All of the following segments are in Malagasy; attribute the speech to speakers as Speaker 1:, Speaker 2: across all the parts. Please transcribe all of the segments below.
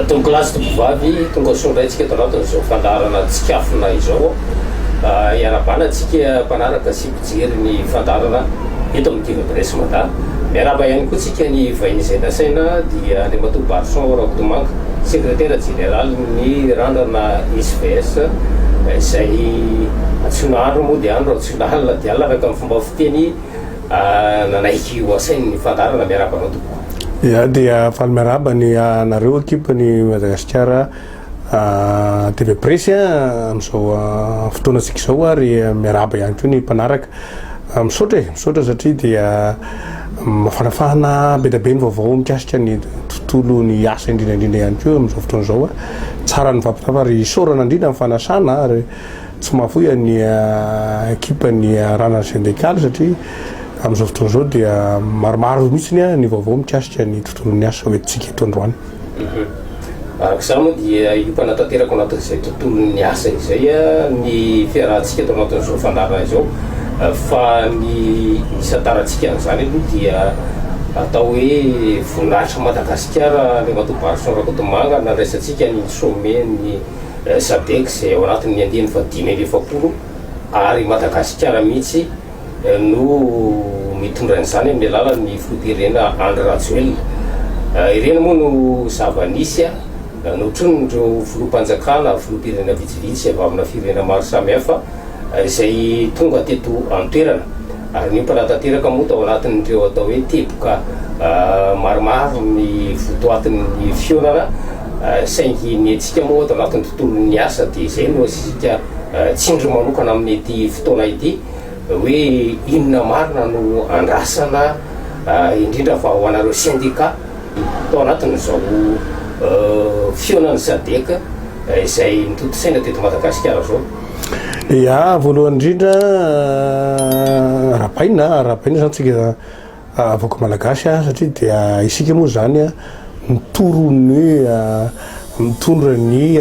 Speaker 1: Tompokolahy sy tompovavy, tonga soa indray tsika eto anatin'izao fandaharana Tsikafona izao. Hiara-bana tsika mpanaraka sy mpijery ny fandaharana eto amin'ny TV Presse Mada. Miarahaba ihany koa tsika ny vahiny izay nasaina, dia Andriamatoa Barison Rakotomanga, sekretera jeneralin'ny Randrana SVS, izay antsoina andro moa dia andro, antsoina alina dia alina araka ny fomba fiteny. Nanaiky ho asainy ny fandaharana, miarahaba anao tompoko. Izaho dia
Speaker 2: faly miarahaba ny anareo ekipa ny Madagasikara TV Presse amin'izao fotoanantsika izao ary miarahaba ihany koa ny mpanaraka. Misaotra e, misaotra satria dia mafanafahana be dia be ny vaovao mikasika ny tontolo ny asa indrindra indrindra ihany koa amin'izao fotoana izao. Tsara ny mifampitafa ary isaorana indrindra ny fanasana ary Tsy mahafoy any ekipa ny Ranan Syndical satria amin'izao fotoana izao dia maromaro mihitsy ny ny vaovao mikasika ny tontolon'ny asa ho entintsika eto androany.
Speaker 1: Araka izany moa dia hiompana tanteraka ao anatin'izay tontolon'ny asa izay ny fiarahantsika eto anatin'izao fandaharana izao fa ny isantarantsika an'izany aloha dia atao hoe Voninahitry Madagasikara Andriamatoa Barison Rakotomanga nandraisantsika ny sommet ny Sadec izay ao anatin'ny andiany fahadimy amby efapolo ary Madagasikara mihitsy no mitondra an'izany amin'ny alalan'ny filoham-pirenena Andry Rajoelina. Ireny moa no zava-nisy notronon'ireo filoham-panjakana, filoham-pirenena vitsivitsy avy amina firenena maro samihafa izay tonga teto an-toerana. ary niompana tanteraka moa tao anatin'ireo atao hoe teboka maromaro ny votoatin'ny fihaonana, saingy ny antsika moa ato anatin'ny tontolon'ny asa dia izay no asiantsika tsindry manokana amin'ity fotoana ity hoe inona marina no andrasana indrindra fa ho anareo sendika tao anatin'izao fihaonan'ny Sadec izay mitontosaina teto Madagasikara izao. Ya,
Speaker 2: voalohany indrindra arabaina, arabaina izany tsika vahoaka malagasy a satria dia isika moa izany a mitory ny hoe mitondra ny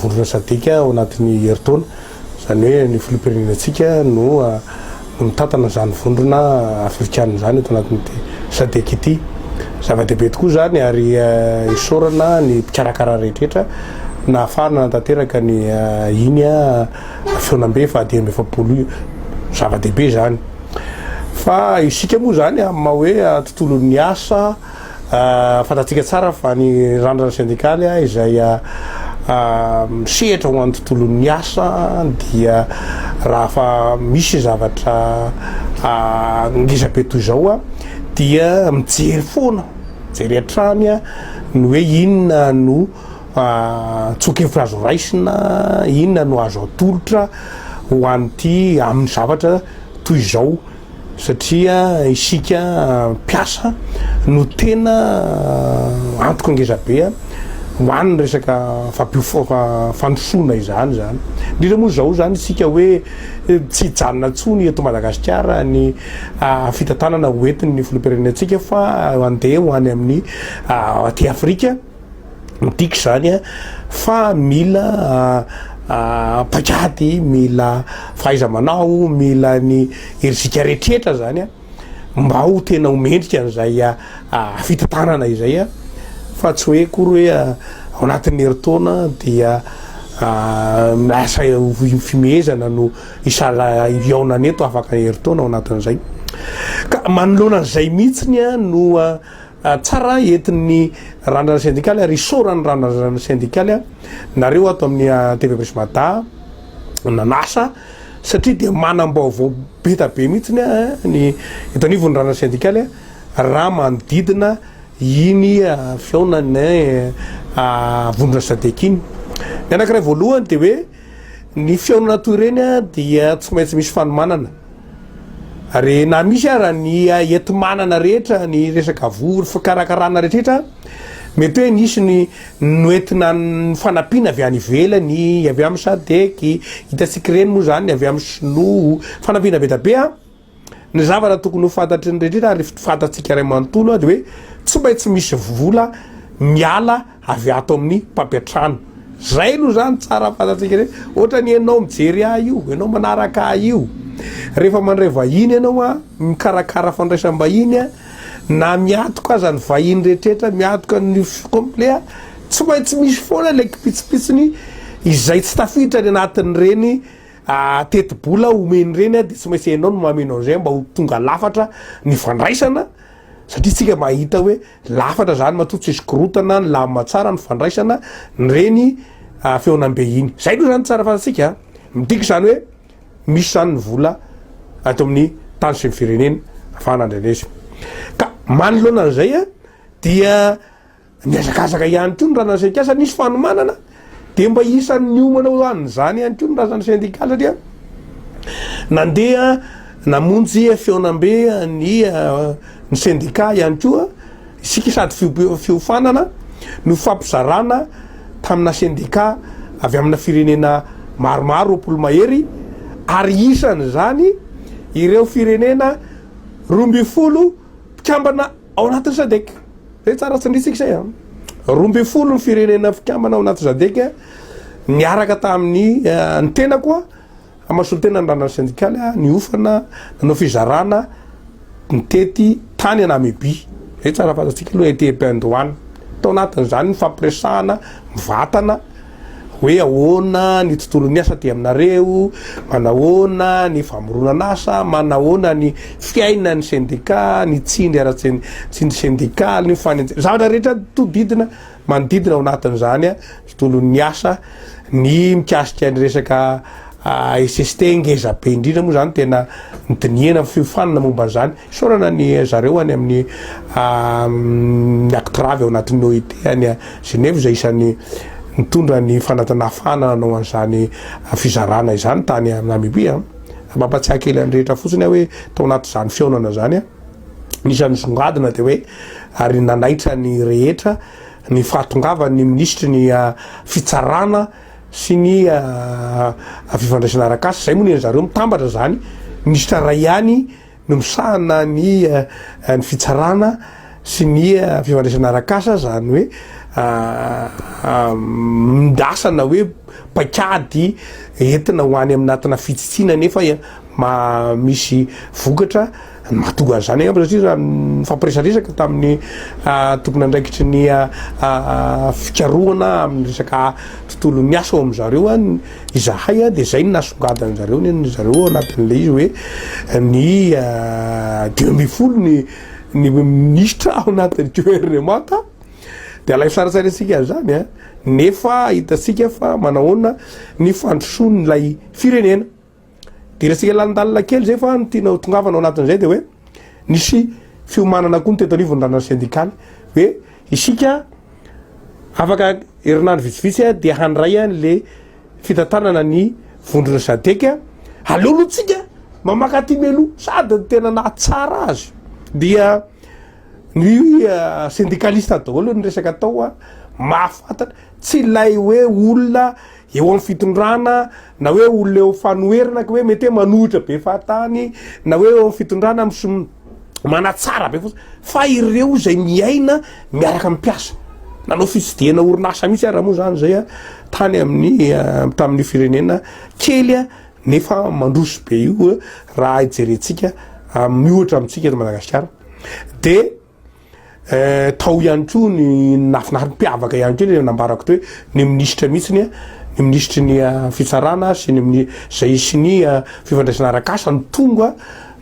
Speaker 2: vondrona sadc ao anatin'ny herintaona, izany hoe ny filoham-pirenenantsika no mitantana izany vondrona afrikana izany eto anatin'ity Sadec ity. Zava-dehibe tokoa izany ary isaorana ny mpikarakara rehetra nahafahana nanatanteraka ny iny fihaonambe fahadimy amby efapolo iny. Zava-dehibe izany. Fa isika moa izany amin'ny maha hoe tontolon'ny asa Fantatsika tsara fa ny randrana sendikaly izay misehatra ho an'ny tontolon'ny asa dia rahafa misy zavatra ngezabe toy izao dia mijery foana, mijery hatrany ny hoe inona no tsoa-kevitra azo raisina, inona no azo atolotra ho an'ity amin'ny zavatra toy izao. Satria isika mpiasa no tena antoka ngeza be ho an' ny resaka fampiof-fandrosoana izany izany. Indrindra moa izao izany isika hoe tsy hijanona intsony eto Madagasikara ny fitantanana ho entin' ny filoham-pirenentsika fa handeha ho any amin' ny aty Afrika. Ny tiako izany a, fa mila paik'ady, mila fahaiza-manao, mila ny herijika rehetra izany a, mba ho tena ho mendrika an'izay fitantanana izay a, fa tsy hoe akory hoe ao anatin'ny herintaona dia asa fihomehezana no hihaonana eto afaka herintaona ao anatin'izay ka manoloana an'izay mihitsy no. Tsara entin'ny Randrana Sendikaly ary isaoran'ny Randrana Sendikaly nareo ato amin'ny TV Presy Mada nanasa satria dia manam-baovao beta be mihitsy ny eto anivon'ny Randrana Sendikaly raha manodidina iny fihaonan'ny Vondrona Sadec iny. Ny anankiray voalohany dia hoe. Ny fihaonana toy ireny dia tsy maintsy misy fanomanana ary na misy aza ny enti-manana rehetra, ny resaka voa, ny fikarakarana rehetra, mety hoe nisy ny noentina ny fanampiana avy any ivelany, avy amin'ny SADEC, hitantsika ireny moa izany avy amin'ny sinoa, fanampiana be dia be. Ny zavatra tokony ho fantatry ny rehetra ary fantatsika iray manontolo dia hoe tsy maintsy misy vola miala avy ato amin'ny mpampiantrano. Zay aloha zany tsara fantatsika hoe ohatra ny ianao mijery ahy io, ianao manaraka ahy io. Rehefa mandray vahiny ianao a, mikarakara fandraisam-bahiny a, na miatoka aza ny vahiny rehetra miatoka ny complet a, tsy maintsy misy foana ilay kipitsipitsiny izay tsy tafiditra any anatin'ireny tetibola omeny ireny dia tsy maintsy enao no mameno an'izay mba ho tonga lafatra ny fandraisana satria tsika mba hita hoe lafatra zany matoa tsisy korotana ny lamina tsara ny fandraisana ny reny ah, feonambe iny zay aloha zany tsara fantatsika ah. midika izany hoe misy zany ny vola ato amin'ny tany sy ny firenena afahana andrenesy ka manoloana an'izay a ah, dia Nihazakazaka ihany koa ny razan'ny sendika satria nisy fanomanana dia mba isan'ny niomana ho an'izany ihany koa ny razan'ny sendika satria nandeha namonjy fihaonambe ny eh, ny sendika ihany koa isika sady fiofanana no fampizarana tamina sendika avy amina firenena maromaro roapolo mahery ary isan'izany ireo firenena roa ambin'ny folo mpikambana Ao anatin'ny Sadec, izay tsara tsindritsika izay an! roa ambin'ny folo ny firenena mpikambana ao anaty Sadec niaraka tamin'ny ny tenako an, amin'ny solontenan'ny ny randrana sendikaly an, niofana, nanao fizarana, nitety tany an Namibia, izay tsara fantatsika aloha, été bain d'Oana, tao anatin'izany ny fampiresahana mivantana, hoe ahoana ny tontolon'ny asa aty aminareo, manahoana ny famoronan'asa, manahoana ny fiainan'ny sendika, ny tsindry ara-tsendika, sendikaly, ny fanenjehana, zavatra rehetra todidina, manodidina ao anatin'izany ny tontolon'ny asa, ny mikasika ny resaka SST ngeza be indrindra moa izany tena nodinihana, fiofanana momba an'izany. Isaorana ny zareo any amin'ny ny Actrave ao anatin'ny OIT any Genève izay isan'ny nitondra ny fanatana fana nanao an'izany fizarana izany tany Namibia. Mampatsiahy kely an'ny rehetra fotsiny aho hoe tao anatin'izany fihaonana izany, ny isan'ny nisongadina dia hoe ary nanaitra ny rehetra ny fahatongavan'ny minisitry ny Fitsarana sy ny fifandraisana arak'asa, izay moa nen'i zareo mitambatra izany, minisitra iray ihany, no misahana ny ny fitsarana sy ny fifandraisana arak'asa izany hoe mindrasana hoe paikady entina ho any aminatina fitsitsiana nefa misy vokatra mahatonga an'izany angamba satria raha nifampiresaresaka tamin'ny tompon'andraikitry ny fikarohana amin'ny resaka tontolon'ny asa ao amin-dry zareo Izahay dia izay no nasongadin-dry zareo, nen'dry zareo ao anatin'ilay izy hoe ny dimy ambin'ny folo ny ny minisitra ao anatin'ny gouvernement dia alaivo sary an-tsaina isika an'izany a, nefa hitantsika fa manahoana ny fandrosoan'ilay firenena. Dia resaka lalindalina kely izay fa ny tiana ho tongavana ao anatin'izay dia hoe nisy fiomanana koa ny teto anivon'ny ranan'ny sendikaly hoe isika afaka herinandro vitsivitsy dia handray an'le fitantanana ny vondrona sadeka aleolotsika mamaka aty melo sady ny tena nahatsara azy dia ny eh, sendikalista daholo ny resaka atao a mahafantatra tsy ilay hoe olona eo amin'ny fitondrana na hoe olona eo fanoherana ka hoe mety hoe manohitra be fahatany na hoe eo fitondrana mis manatsara be fotsiny fa ireo izay miaina miaraka amin'ny mpiasa nanao fitsidihana orinasa mihitsy ara moa zany zay a tany amin'ny eh, tamin'ny firenena kely a nefa mandroso be io eh, raha hijerentsika amin'ny ohatra amintsika eto madagasikara de Eh, tao ihany koa ny nafinariny mpiavaka ihany koa ny nambarako teo hoe ny minisitra mihitsy ny ny minisitry ny ah, fitsarana sy ny mini zay sy ny ah, fifandraisana arakasa ny tonga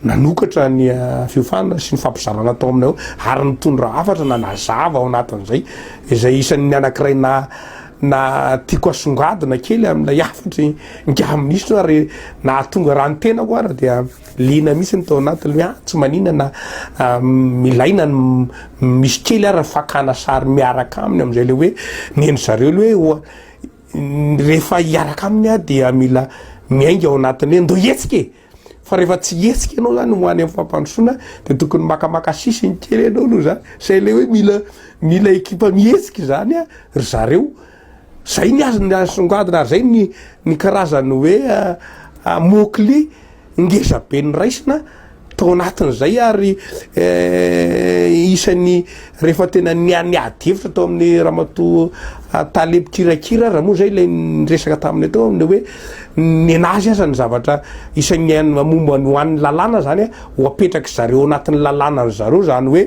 Speaker 2: nanokatra ny ah, fiofanana sy ny fampizarana tao aminay ao ary nitondra hafatra na nazava ao anatin'izay izay isan'ny anankiray na na tiako asongadina kely amin'ilay hafatry ny gaha minisitra ary nahatonga raha ny tenako ary dia Liana mihitsy ny tao anatiny hoe ah, tsy manina na milaina ny misy kely ary fakana sary miaraka aminy amin'izay ilay hoe nen'i zareo ilay hoe oa rehefa hiaraka aminy aho dia mila miainga ao anatiny hoe ndoa hetsika e! fa rehefa tsy hetsika ianao zany ho any amin'ny fampandrosoana dia tokony makamaka sisiny kely ianao aloha zany, izay ilay hoe mila mila ekipa mihetsika izany ry zareo. Zay ny azy ny asongadina ary zay ny ny karazany hoe mokli ngeza be niraisina tao anatin zay ary isany refa tena nia niady hevitra tao aminy ramatoa tale mpikirakira ra moa zay ilay niresaka taminy teo aminy hoe nenazy aza ny zavatra isany an momba ny ho any lalàna zany a ho apetraky zareo anatin'ny lalàna ny zareo zany hoe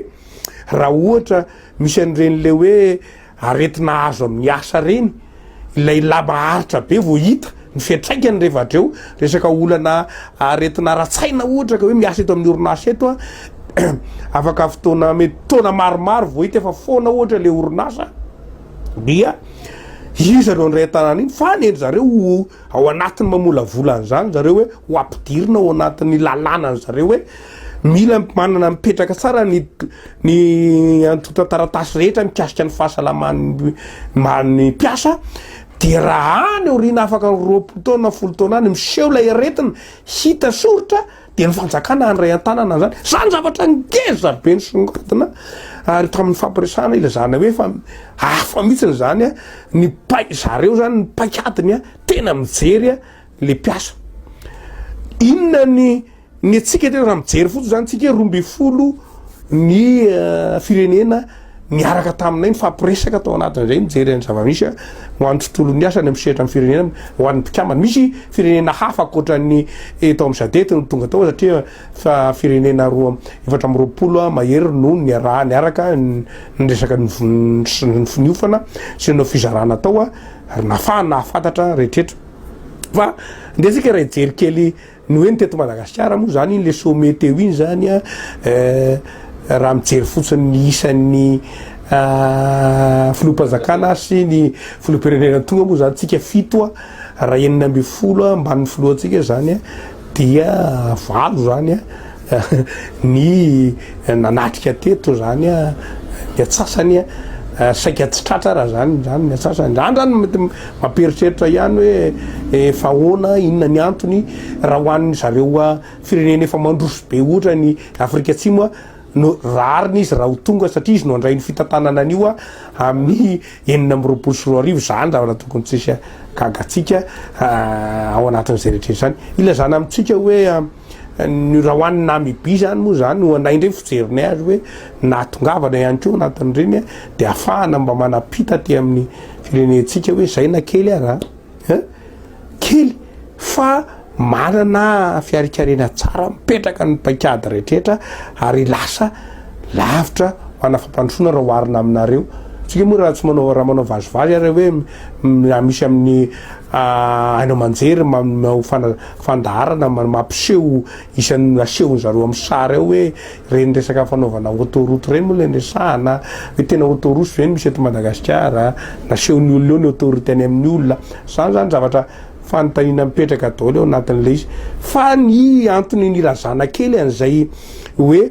Speaker 2: ra ohatra misy an'ireny le hoe Aretina azo amin'ny asa reny ilay lahy maharitra be vao hita ny fiantraikany rehefa atreo. Resaka olana aretina ara-tsaina ohatra ka hoe miasa eto amin'ny orinasa eto aho, afaka fotoana mety taona maromaro vao hita efa foana ohatra ilay orinasa dia iza no handray an-tanan'iny fa ny an-dry zareo ho ao anatin'ny mamolavola an'izany zareo hoe ho ampidirina ao anatin'ny lalàna an'zareo hoe Mila manana mipetraka tsara ny ny antontan-taratasy rehetra mikasika ny fahasalaman'ny ny mpiasa dia raha any aoriana afaka ny roapolo taona na folo taona any miseho ilay aretina hita soritra dia ny fanjakana handray an-tanana an'izany. Izany no zavatra ngeza be nisongadina ary tamin'ny fampiresahana ilazana hoe efa hafa mihitsy izany ny paik-zareo izany ny paik'adiny tena mijery le mpiasa. Inona ny ny antsika tena raha mijery fotsiny zany tsika hoe roa ambin'ny folo ny eh, firenena niaraka taminay nifampiresaka tao anatin'izay mijery an'ny zavamisy a, ho an'ny tontolon'ny asa ny amin'ny sehatra amin'ny firenena ho an'ny mpikambana misy firenena hafa ankoatran'ny eto amin'ny sadety no tonga tao satria fa firenena roa efatra amby roapolo a, mahery no niaraha niaraka n- niresaka ny vin- sy ny finiofana sy nanao fizarana tao a, ary nafahana nahafantatra rehetra Fa ndeha isika raha hijery kely ny hoe ny teto Madagasikara moa izany iny le sommet teo iny izany a raha mijery fotsiny ny isan'ny filoham-panjakana sy ny filoham-pirenena tonga moa izany tsika fito a raha enina ambin'ny folo ambanin'ny filohantsika izany a dia valo izany a. Ny nanatrika teto zany ny atsasany saika tsy tratra raha zany zany ny atsasany. Zany zany mety mampieritreritra ihany hoe efa ahoana, inona ny antony raha ho an'ny zareo firenena efa mandroso be ohatra ny Afrika Atsimo no rariny izy raha ho tonga satria izy no handray ny fitantanana an'io amin'ny enina amby roapolo sy roa arivo. Zany ny zavatra tokony tsy hisy gagatsika ao anatin'izay rehetra izay. Ilazana amintsika hoe. Ny raha ho an'ny Namibia izany moa izany ho anay indray fijerinay azy hoe nahatongavana ihany koa anatin'ireny dia afahana mba manapita aty amin'ny firenentsika hoe izay na kely ara eh? kely fa manana fiarikarena tsara mipetraka ny paikady rehetra ary lasa lavitra mana fampandrosoana raha oharina aminareo tsika moa raha tsy manao raha manao vazivazy ary hoe misy amin'ny ah, haino aman-jery manao fana fandaharana mampiseho isan'ny nasehon zareo am sary ao hoe reny resaka fanaovana autoroute reny moa le niresahana hoe tena autoroute ve no misy eto Madagasikara nasehon'ny olona eo ny autoroute any amin'ny olona zany zany zavatra fanontaniana mipetraka daoly ao anatin'ilay izy fa ny antony nirazana kely an'izay hoe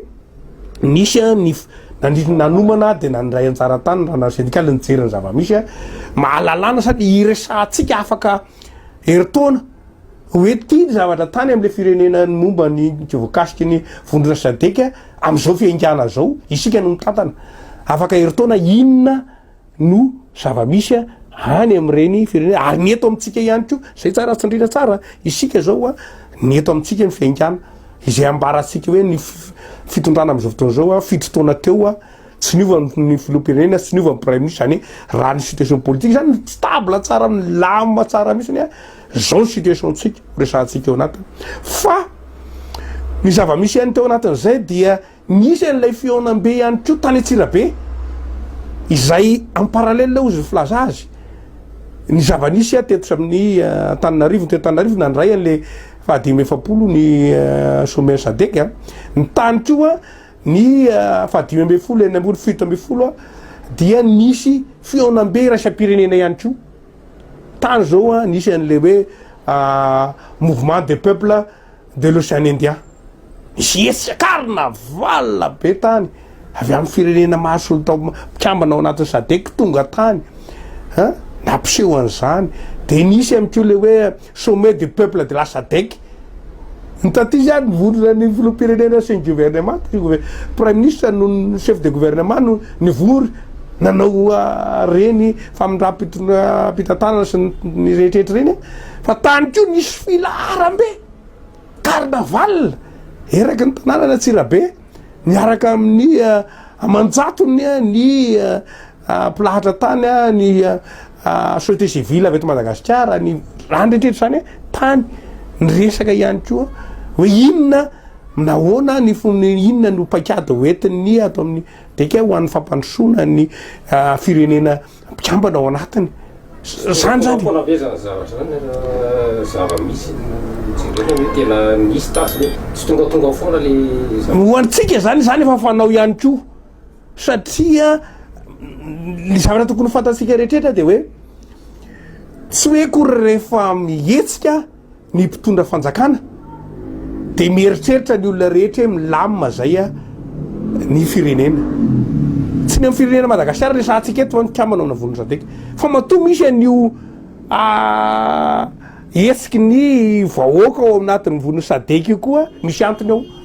Speaker 2: nisy ny nandritra nanomana dia nandray anjara tany rana sendikaly nijery ny zava-misy mahalalana sady iresahantsika afaka herintaona Hoe ity ny zavatra tany amin'ilay firenena ny momba ny voakasiky ny vondrona sadc amin'izao fiaingàna izao, isika no mitantana. Afaka herintaona inona no zava-misy any amin'ireny firenena, ary ny eto amintsika ihany koa. Izay tsara tsindriana tsara isika izao, ny eto amintsika ny fiaingàna. Izay ambarantsika hoe ny fitondrana amin'izao fotoana izao, fito taona teo. Tsy niova ny filoham-pirenena, tsy niova ny praiminisitra, izany hoe raha ny situation politique izany no stable tsara, milamina tsara mihitsy anie, izao ny situation-tsika ho resahantsika eo anatiny. Fa ny zava-misy ihany teo anatin'izay dia nisy an'ilay fihaonambe ihany koa tany Antsirabe, izay en parallèle hozy ny filaza azy, ny zava-nisy aho teto amin'ny Antananarivo, teto Antananarivo nandray an'ilay fahadimy amby efapolo ny sommet-n'ny Sadec, ny tany koa, Ny fahadimy ambin'ny folo, enina ambin'ny fito ambin'ny folo dia nisy fihaonambe iraisam-pirenena ihany koa. Tany izao nisy an'ilay hoe Mouvement des peuples de l'Océan Indien. Nisy hetsika carnaval be tany avy amin'ny firenena mahasolonta mpikambana ao anatin'ny SADEC tonga tany nampiseho an'izany. Dia nisy ihany koa ilay hoe Sommet des peuples de la Sadec, ny taty izany vondrona ny filoham-pirenena sy ny governemanta, ny gover-, praiminisitra no ny chef de gouvernement no nivory nanao ireny famindram-pitantanana sy ny rehetrehtra ireny an, fa tany koa nisy filaharam-be, carnaval, eraky ny tanànan'Antsirabe, niaraka amin'ny aman-jatony ny Mpilahatra tany, ny société civile avy eto Madagasikara, ny raha an'retrretra izany hoe tany, ny resaka ihany koa hoe inona, nahoana, ny inona no paikady ho entin'ny ato amin'ny DECA ho an'ny fampandrosoana ny firenena mpikambana ao anatiny. Izany izany. Foana be izany zavatra izany, zava-misy jerena hoe tena
Speaker 1: misy tasy ve? Tsy tongatonga foana ilay zavatra. Ho antsika
Speaker 2: izany, izany efa fanao ihany koa. Satria ny zavatra tokony fantatsika rehetrretra dia hoe tsy hoe kory rehefa mihetsika ny mpitondra fanjakana dia mieritreritra ny olona rehetra hoe milamina izay a ny firenena. Tsy ny amin'ny firenena Madagasikara resahantsika eto ny kambana ao Navon'ny Sadec fa matoa misy an'io hetsiky ny vahoaka ao anatin'ny Nivon'ny Sadec io koa misy antony ao.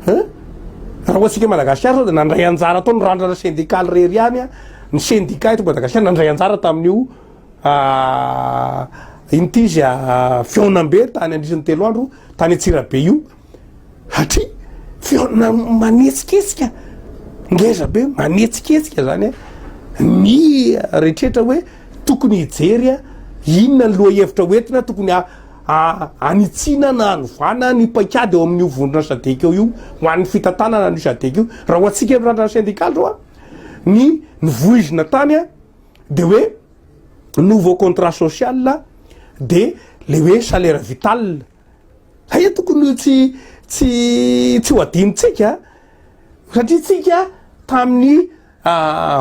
Speaker 2: Raha hoantsika Madagasikara zao de nandray anjara tao ny randrana sendikaly rery ihany a, ny sendika eto Madagasikara nandray anjara tamin'io ah, ino ty izy ah, fihaonambe tany andrisan'ny telo andro tany Antsirabe io, satria fihaona manetsiketsika, ngeza be manetsiketsika zany a, ny rehetra hoe tokony hijery a, inona ny lohahevitra hoentina tokony a. hanitsiana na hanovana ny paikady eo amin'io vondrona sadc eo io ho an'ny fitantanana an'io sadc io raha ho antsika eto randrana sendikaly zao a ny nivoizina tany a de hoe nouveau contrat social de le hoe salaire vital hay tokony ho tsy tsy tsy ho adinontsika satria tsika tamin'ny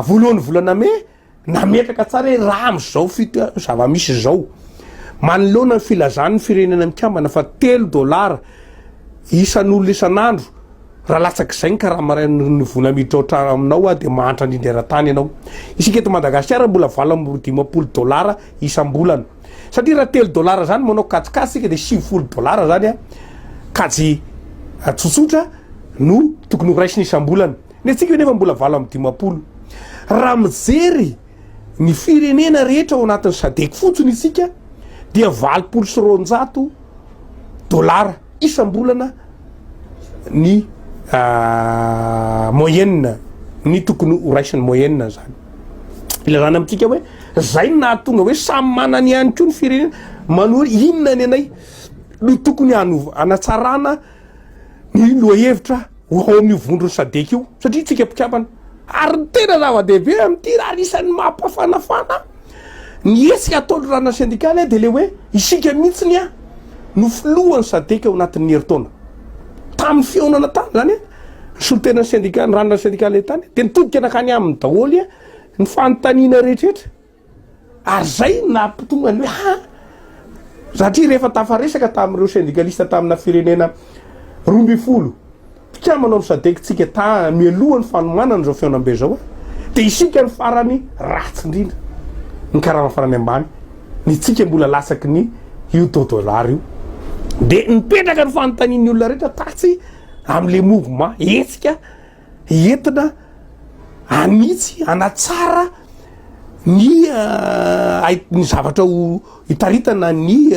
Speaker 2: voalohan'ny volana mai Nametraka tsara hoe raha amin'izao zava-misy izao, manoloana ny filazan'ny Firenena Mikambana fa telo dolara isan'olona isan'andro, raha latsak'izay ny karama iray amin'ny vola miditra ao an-tranonao aho dia mahantra indrindra eran-tany ianao. Isika eto Madagasikara mbola valo amby roa dimampolo dolara isam-bolana. Satria raha telo dolara izany manao kajikajy isika dia sivifolo dolara izany kajy tsotsotra no tokony horaisina isam-bolana. Ny antsika anefa mbola valo amby dimampolo. Raha mijery ny firenena rehetra ao anatin'ny sadec fotsiny isika dia valopolo sy roanjato dollars isam-bolana ny moyenne ny tokony ho raisin'ny moyenne zany. Ilazana amintsika hoe zay no nahatonga hoe samy manana ihany koa ny firenena manohy inona ny anay no tokony hanatsarana Ny lohahevitra ho ao amin'io vondron'ny Sadec io satria isika mpikambana ary ny tena zava-dehibe amin'ity ary isan'ny mampafanafana ny hetsika ataon'ny ranona sendikaly dia ilay hoe isika mihitsy no filohan'ny Sadec ao anatin'ny herintaona. Tamin'ny fihaonana tany izany ny solontenan'ny sendika, ny ranona sendikaly tany dia nitodika nankany aminy daholo ny fanontaniana rehetra. Ary izay no nahatonga ny hoe ha! satria rehefa tafaresaka tamin'ireo sendikalista tamina firenena roa ambin'ny folo mpikambana ao amin'ny sadec tsika ta mialoha ny fanomanana izao fihaonambe izao a! dia isika no farany ratsy indrindra, ny karama farany ambany, ny tsika mbola latsaky ny io taux dollar io. Dia nipetraka ny fanontanian'ny olona rehetra tatsy amin'ilay mouvement, hetsika entina hanitsy, hanatsara ny hait ny zavatra ho hitaritana ny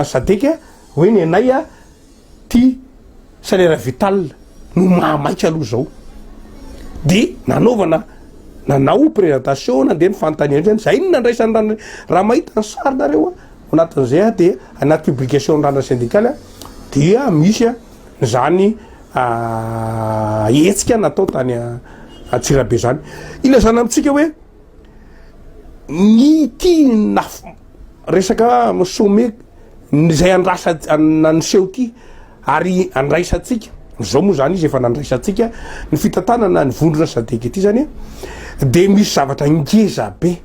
Speaker 2: sadc hoe ny anay a ty salaire vital no maha maika aloha zao de nanaovana nanao presentation nandeha ny fanontaniana zany zay no nandraisany ra ny raha mahita ny sary nareo a ao anatin'izay a de anaty publication ny randrana sendikaly a dia misy a. zany hetsika natao tany Antsirabe zany. Ilazana amintsika hoe ny ity naf resaka sommet izay andrasa niseho ity ary andraisantsika zao moa zany izy efa nandraisantsika ny fitantanana ny vondrona sadc ity zany de misy zavatra ngeza be.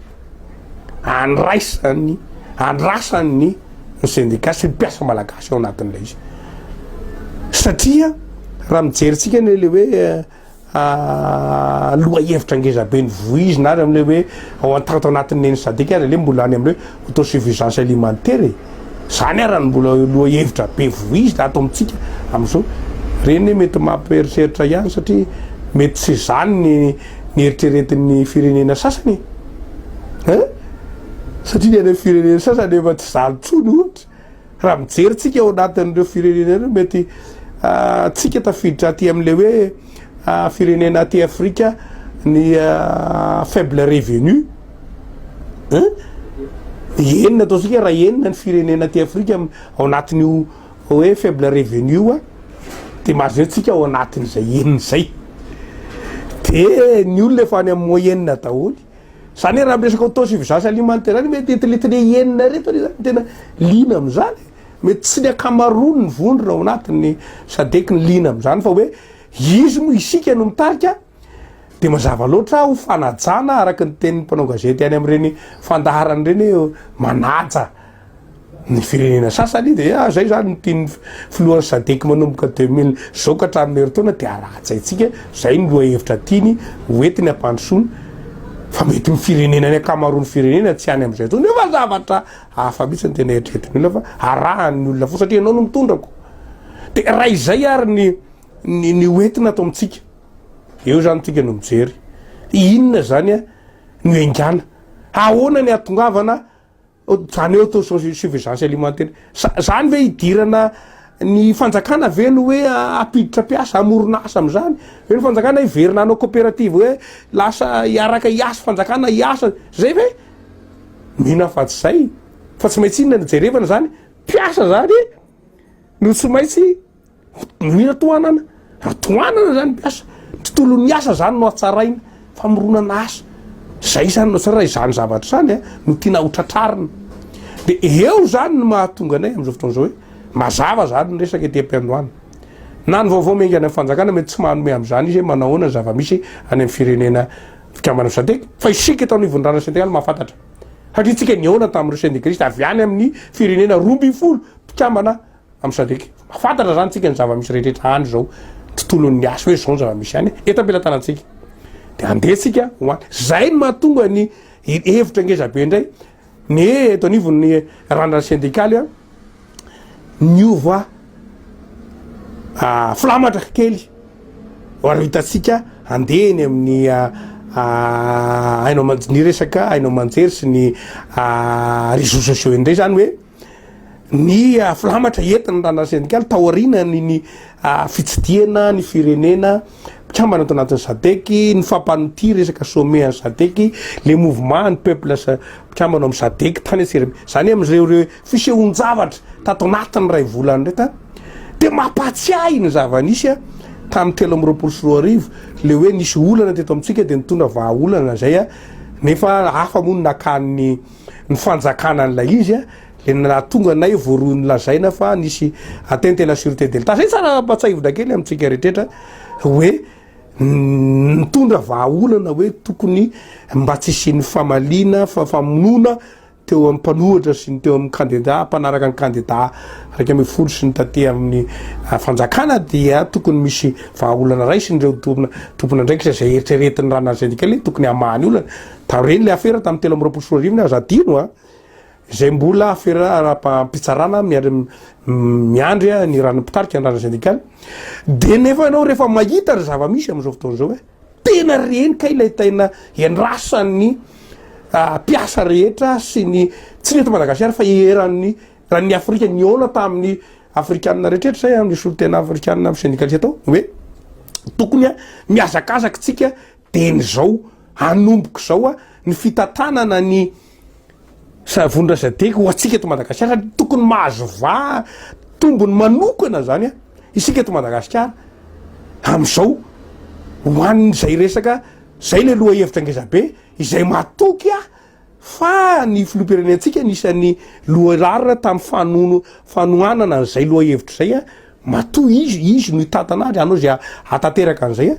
Speaker 2: andraisan'ny andrasan'ny ny sendika sy ny mpiasa malagasy ao anatin'ilay izy satria raha mijery tsika ny le hoe ah, loha hevitra ngeza be ny voizina ary am'le hoe ao antanto anatin'ny eny sadika ary le mbola any am'le autosuffisance alimentaire e zany ara ny mbola loha hevitra be voizina ato amintsika am'izao reny mety mampieritreritra ihany satria mety tsy zany ny ny eritreretin'ny firenena sasany e! Hein? Satria ny any amin'ny firenena sasany efa tsy zany intsony ohatra. Raha mijery tsika ao anatin'ireo firenena ireo mety ah, tsika tafiditra aty amin'ilay hoe ah, firenena aty Afrika ny ah, faible revenu. Hein? Enina ataontsika raha enina ny firenena aty Afrika ao anatin'io Hoe faible revenu oa de mahazo tsika ao anatiny zay enina zay de ny olona efa any amin'ny moyenne daholy zany hoe raha miresaka autosuffisance alimentaire zany mety eto letry le enina reto anie zany tena liana amin'izany mety tsy ny akamaroany ny vondrona ao anatin'ny sadec ny liana amin'izany fa hoe izy moa isika no mitarika de mazava loatra ho fanajana araka ny tenin'ny mpanao gazety any amin'ireny fandaharana ireny hoe manaja ny firenena sasany de ah, zay zany ny tian'ny filohan'ny sadek manomboka 2000 zao ka hatramin'ny herintaona de alatsaintsika zay ny loha hevitra tiany hoentiny ampandrosoana fa mety ny firenena ny ankamaroan'ny firenena tsy any amin'izay tsony efa zavatra hafa mihitsy ny tena eritreretin'ny olona fa arahan'ny olona fo satria ianao no mitondrako de raha izay ary ny ny ny hoentina ato amintsika eo zany tsika no mijery inona zany a no engana ahoana ny atongavana zany eo to suffisance alimentaire zany ve hidirana ny fanjakana ve no hoe apiditra mpiasa amorona asa am'izany ve ny fanjakana hiverina anao coopérative hoe lasa hiaraka hiasa fanjakana hiasa zay ve mino aho fa tsy zay fa tsy maintsy inona no jerevana zany mpiasa zany no tsy maintsy Noho i Ratohanana, Ratohanana zany mpiasa, ny tontolon'ny asa zany no hatsaraina, famoronana asa, zay zany no tsara, izany zavatra zany a no tiana ho tratrarina, de eo zany no mahatonga anay am'zao fotoana zao hoe mazava zany ny resaka ety am-piandohana, na ny vaovao miainga any amin'ny fanjakana mety tsy manome am'zany izy hoe manao ahoana ny zava-misy any amin'ny firenena mpikambana Sadec, fa isika eto anivon'ny Rariny Sendikaly mahafantatra, satria tsika nihaona tamin'ireo sendikalisty avy any amin'ny firenena roa ambin'ny folo mpikambana. am sadec mba fantatra zany tsika ny zava-misy rehetra any zao tontolon'ny asa hoe zao ny zava-misy any eto am-pelatanantsika de andeha tsika ho any zay ny mahatonga ny hevitra ngezabe indray ny eto anivon'ny randrana sendikaly a niova ah, filamatra kely ary hitantsika andeha eny amin'ny ah, ah, haino aman- ny resaka haino aman-jery sy ny ah, réseaux sociaux indray zany hoe ny filamatra entin'ny Ranareo Sendikaly taorianan'ny ny fitsidihana ny firenena mpikambana ato anatin'ny Sadec, ny fampanotia resaka sommet an'ny Sadec, le mouvement an'ny peuples mpikambana amin'ny Sadec tany atsirime. Zany amin'ireo reo fisehoan-javatra tato anatin'ny iray volana ireto a, dia mampahatsiahy ny zava-nisy tamin'ny telo amby roapolo sy roa arivo, le hoe nisy olana teto amintsika dia nitondra vahaolana izay a, nefa hafa moa no nakany ny. ny fanjakana an'ilay izy le nahatonga anay voaroy nolazaina fa nisy atteinte à la sûreté de l'Etat. Zay tsara ampatsahivina kely amintsika rehetra hoe nitondra vahaolana hoe tokony mba tsy hisian'ny famaliana fa famonoana teo amin'ny mpanohatra sy ny teo amin'ny kandida mpanaraka ny kandida iraika ambin'ny folo sy ny taty amin'ny ah, fanjakana dia tokony misy vahaolana raisin'ireo tompona tompon'andraikitra izay eritreretin'ny ranarysendikaly tokony hamaha ny olana Taorian'ny le afera tamin'ny telo amby roapolo sy roa arivo ny aza adino a, izay mbola afera ara-pitsarana miandry miandry ny ran'ny mpitarika ny ran'ny sendikaly, dia nefa ianao rehefa mahita ny zava-misy amin'izao fotoana izao hoe tena reny kay ilay taina iandrasan'ny mpiasa rehetra sy ny tsy ny eto Madagasikara fa eran'ny ran'ny Afrika nihaona tamin'ny Afrikanina rehetra izay amin'ny solontena Afrikanina amin'ny sendikaly atao hoe tokony a mihazakazaka tsika Dia izao hanomboko izao a, ny fitantanana ny Savon-dRazadek ho antsika eto Madagasikara dia tokony mahazo va tombony manokana izany a, isika eto Madagasikara amin'izao ho an'izay resaka, izay ilay lohahevitra ngezabe izay matoky ahy Fa ny filoham-pirenentsika anisan'ny lohararina tamin'ny fanono fanohanana an'izay lohahevitra izay a, matoa izy izy no hitantana azy, hanao izay hahatanteraka an'izay a,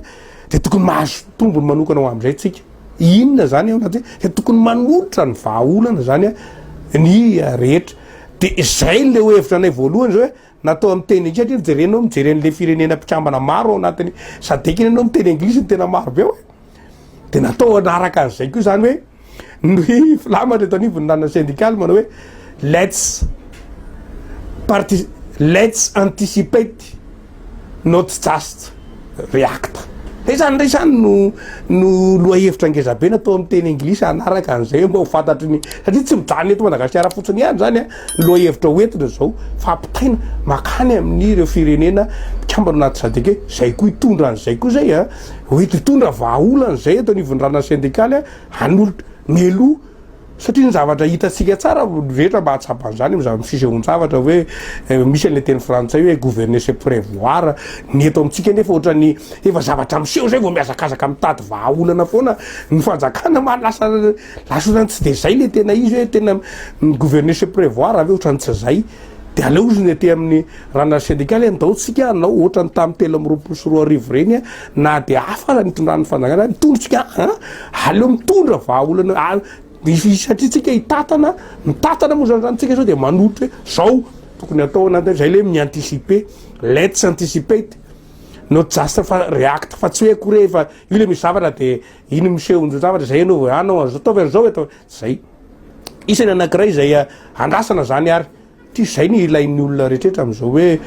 Speaker 2: dia tokony mahazo tombony manokana ho amin'izay tsika. Inona izany ao anaty hoe tokony manolotra ny vahaolana izany a ny rehetra. Dia izay ilay hevitra anay voalohany izay hoe Natao amin'ny teny intsy hatria jereo ianao mijery an'ilay firenena mpikambana maro ao anatin'ny sadec iny ianao miteny anglisy ny tena maro be ao e. Dia natao hanaraka an'izay koa izany hoe ny filamatra eto anivon'ny ranona sendikaly manao hoe let's parti let's anticipate not just. React. Dia izany indray izany no no lohahevitra ngezabe natao amin'ny teny anglisy hanaraka an'izay hoe mba ho fantatry ny satria tsy mijanona eto Madagasikara fotsiny ihany izany a, ny lohahevitra hoentina izao fa ampitaina makany amin'ireo firenena mpikambana anaty sadc hoe izay koa hitondra an'izay koa izay a, ho eto hitondra vahaolana izay eto anivon'ny ranasy sendikaly a, hanolo- mialoha. Satria ny zavatra hitantsika tsara ny rehetra mba hahatsapa an'izany amin'izany fisehoan-javatra hoe misy an'ilay teny frantsay hoe gouverner c'est prevoir, ny eto amintsika anefa ohatran'ny efa zavatra miseho izay vao mihazakazaka mitady vahaolana foana ny fanjakana mba lasa lasa ohatran'ny tsy dia izay ilay tena izy hoe tena gouverner c'est prevoir ve ohatran'ny tsy izay. Dia aleo ozy ny aty amin'ny ranary sendikaly e, ndao tsika hanao ohatran'ny tamin'ny telo amby roapolo sy roa arivo ireny e, na dia hafa aza ny itondran'ny fanjakana, mitondra tsika an, aleo mitondra vahaolana ary misy satria tsika hitatana, mitatana moa zany zany tsika sao dia manohitra hoe zao tokony atao anatin' izay le mi-anticiper, let's anticipate, not just fa react fa tsy hoe akory e, fa io le misy zavatra dia iny miseho ny zavatra izay ianao vao anao an'izao, ataovy an'izao e, ataovy, zay. Isany anankiray izay andrasana izany ary tys izay ny ilain'ny olona rehetra amin'izao hoe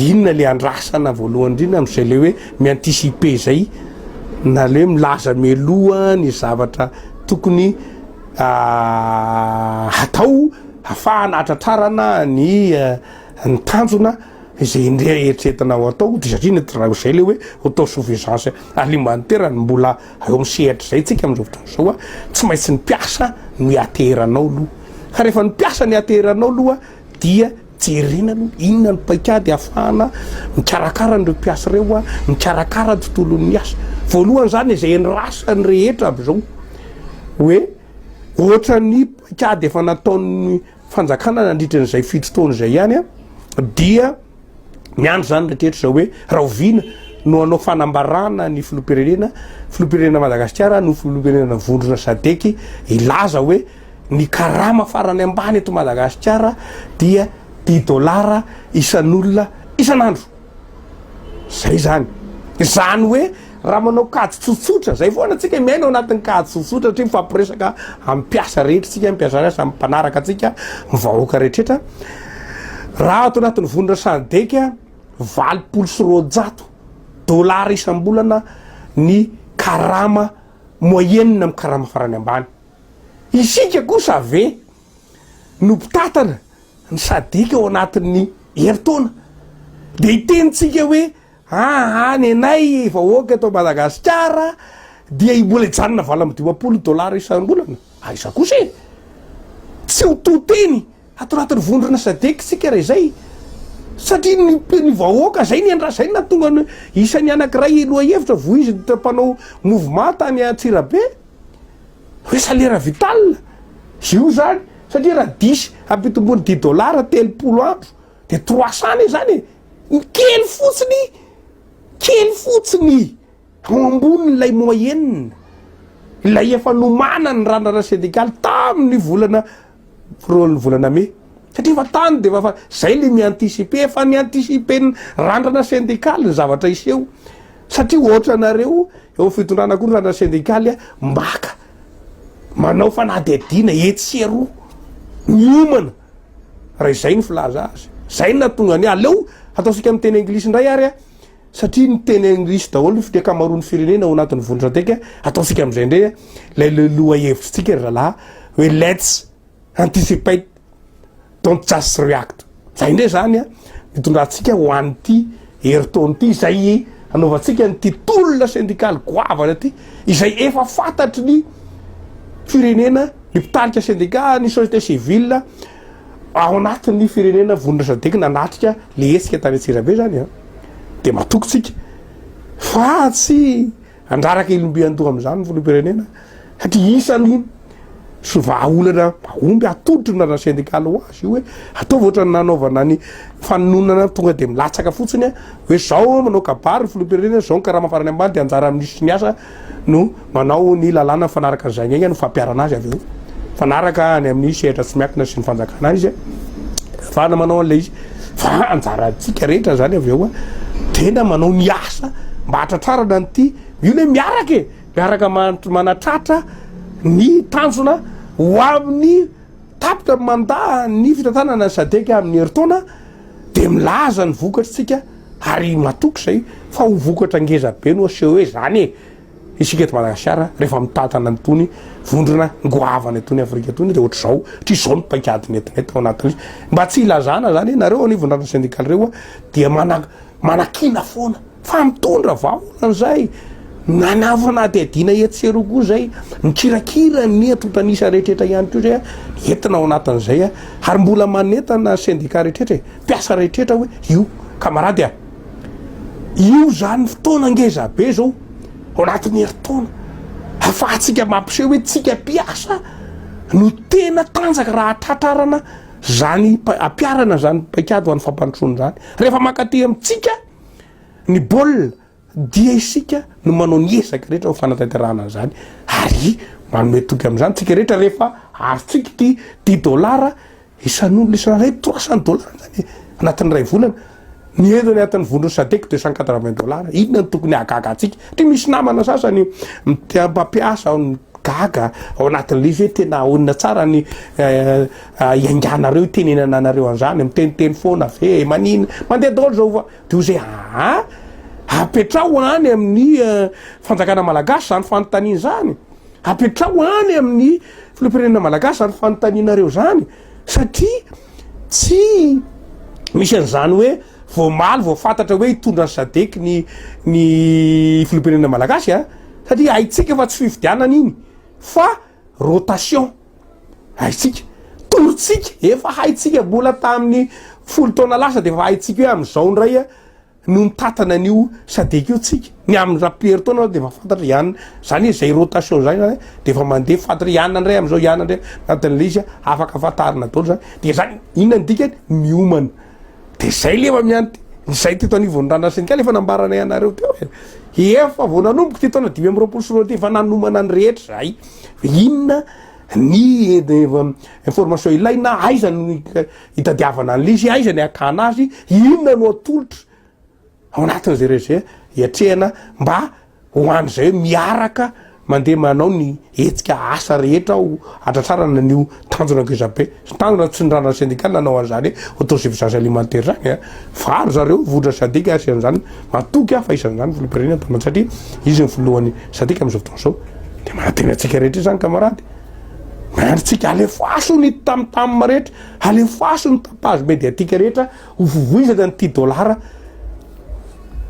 Speaker 2: inona le andrasana voalohany indrindra amin'izay le hoe mi-anticiper izay na le milaza mialoha ny zavatra tokony ah, hatao hafahana hatratrarana ny eh, ny tanjona izay indray eritreretina ho atao dia satria ny raha izay le hoe autosuffisance alimentaire ny mbola Eo amin'ny sehatr'izay tsika amin'izao fotoana izao a, tsy maintsy ny mpiasa no hiateranao aloha. Ka rehefa ny mpiasa no hiateranao aloha dia jerena aloha inona ny paikady ahafahana mikarakara an'ireo mpiasa ireo a, mikarakara ny tontolon'ny asa. Voalohany izany izay andrasan'ny rehetra avy izao hoe ohatran'ny paikady efa nataon'ny fanjakana nandritra an'izay fito taona izay ihany dia miandry izany rehetra izao hoe rahoviana no hanao fanambarana ny filoha-pirenena filoha-pirenena Madagasikara no filoha-pirenena vondrona sadeky hilaza hoe ny karama farany ambany eto Madagasikara dia dix dollars isan'olona isan'andro. Zay zany. Izany hoe raha manao kajy tsotsotra, zay foana tsika miaina ao anatin'ny kajy tsotsotra satria mifampiresaka amin'ny mpiasa rehetra tsika, ny mpiasa miasa amin'ny mpanaraka antsika, ny vahoaka rehetra. Raha ato anatin'ny vonona SADEC, valopolo sy roanjato dollars isam-bolana ny karama moyenne amin'ny karama farany ambany. Isika kosa ve no mpitantana ny sadc ao anatin'ny herintaona dia hitenintsika hoe aa nenay vahoaka eto Madagasikara dia i mbola hijanona valo amby dimampolo dollars isam-bolana aiza kosa e! tsy ho to teny ato anatin'ny vondrona sadc isika raha izay satria ny ny vahoaka zay ny endra zay na tonga ny isan'ny anakiray lohahevitra vohizina mpanao mouvement tany Antsirabe Hoe salaire vital io zany satria raha diso ampitomboiny dix dollars telopolo andro de trois cents anie zany e! ny kely fotsiny kely fotsiny ao ambonin'ilay moyenne ilay efa nomanan'ny randrana sendikaly tamin'ny volana Pro ny volana mey satria efa tany dia efa zay le mi-anticiper efa ny anticiper ny randrana syndicale ny zavatra hiseho satria ohatra anareo eo fitondrana koa ny randrana syndicale a mbaka manao fanadihadiana etsy sy eroa miomana raha izay ny filaza azy zay natonga ny aleo ataosika amin'ny teny anglisy indray ary a Satria miteny anglisy daholo ny fite kamaroan'ny firenena ao anatin'ny vondron-teka, ataontsika amin'izay indray a, ilay le lohahevitrintsika ry zalaha hoe let's anticipate don't just react. Zay indray zany a, nitondrantsika ho an'ity herintaona ity izay anaovantsika an'ity tolona sendikaly goavana ity, izay efa fantatry ny firenena, ny mpitarika sendika, ny société civile, Ao anatin'ny firenena vonona SADEC nanatrika le hetsika tany Antsirabe zany an, dia matoky tsika fa tsy handraraka ilomby andoha amin'izany ny filoham-pirenena satria isan'ny so vahaolana mahomby atolotry ny razana sendikaly ho azy io hoe ataovy ohatran'ny nanaovana ny fanononana tonga dia milatsaka fotsiny hoe zao manao kabary ny filoham-pirenena, zao ny karama farany ambany dia anjaran'ny minisitry ny asa. no manao ny lalàna mifanaraka an'izay ny aingana no fampiharana azy avy eo mifanaraka any amin'ny sehatra tsy miankina sy ny fanjakana izy ahafahana manao an'ilay izy fa anjarantsika rehetra zany avy eo a tena manao ny asa mba hatratrarana an'ity io le miaraka e miaraka manatratra ny tanjona ho amin'ny Tapitra ny manda ny fitantanana ny sadc amin'ny herintaona dia milaza ny vokatry tsika ary matoky izay fa ho vokatra ngeza be no aseho hoe izany e! isika eto Madagasikara rehefa mitantana an'itony vondrona ngoavana itony Afrika itony dia ohatr'izao satria izao ny paikady netinety ao anatin'izy mba tsy hilazana izany nareo anivon'ny rantsy sendikaly ireo dia mana manakiana foana Fa mitondra vahaolana izay nanavo fanadihadiana etsy sy eroa koa izay mikirakira ny antontan'isa rehetraretra ihany koa izay entina ao anatin'izay ary mbola manentana ny sendika rehetraretra e, mpiasa rehetraretra hoe io kamarady a! Io izany fotoana ngeza be izao ao anatin'ny herintaona ahafahantsika mampiseho hoe tsika mpiasa no tena tanjaka raha hatratrarana izany ampiharana izany paikady ho an'ny fampandrosoana izany rehefa mankaty amintsika Ny baolina dia isika no manao ny ezaka rehetra ho fanatanterahana an'izany ary manome toky amin'izany tsika rehetra rehefa arotsika ity dix dollars isan'olona isan'iray trois cent dollars zany anatin'ny iray volana ny ezo ny anatin'ny vondron'ny sadek deux cent quatre vingt dollars inona no tokony hahagaga antsika try misy namana sasany mpampiasa ao ny gaga ao anatin'ilay izy hoe tena ahonina tsara ny eh, Iainganareo itenenana anareo anzany miteniteny foana ve manina mandeha daholo zao va de oze aa apetraho any amin'ny fanjakana malagasy zany fanontaniana zany apetraho any amin'ny filohampirenena malagasy zany fanontanianareo zany satria tsy misy an'izany hoe vao omaly vao fantatra hoe hitondra ny sadec ny ny filohampirenena malagasy a satria haintsika fa tsy fifidianana iny fa rotation haitsika torotsika efa haitsika bola tamin'ny folo taona lasa de efa haitsika hoe amizao ndray a no mitatana an'io sadec io tsika ny amin'ny rapier taona aho de efa fantatra ihany zany hoe zay rotation zay zany de efa mandeha fantatra ihany ndray amizao ihany ndray anatin'ilay izy afaka fantarina daholo zany de zany inona ny dikany miomana Dia zay lefa miant ny zay teto anivon'ny randrana-sendikaly efa nambaranay anareo teo e! Efa vao nanomboka ity taona dimy amby roapolo sy roa arivo ity efa nanomana ny rehetra zahay fa inona ny information ilaina, aiza no hitadiavana an'le izy, aiza ny hakana azy, inona no atolotra ao anatin'izay rejet hiatrehana mba Ho an'izay hoe miaraka mandeha manao ny hetsika asa rehetra ho hatratrarana an'io tanjona ngezabe sy tanjona tsindranana sendikaly nanao an'izany autosuffisance alimentaire izany. Varo zareo vohitra Sadc ary isan'izany matoky aho fa isan'izany filoham-pirenena Mpamany satria izy ny filohan'ny Sadc amin'izao fotoana izao. Dia manantena antsika rehetra izany kamarady. Miandry antsika alefaso ny tamtam rehetra, alefaso ny tapage mediatique rehetra Ho vovoizana ny tia dolara,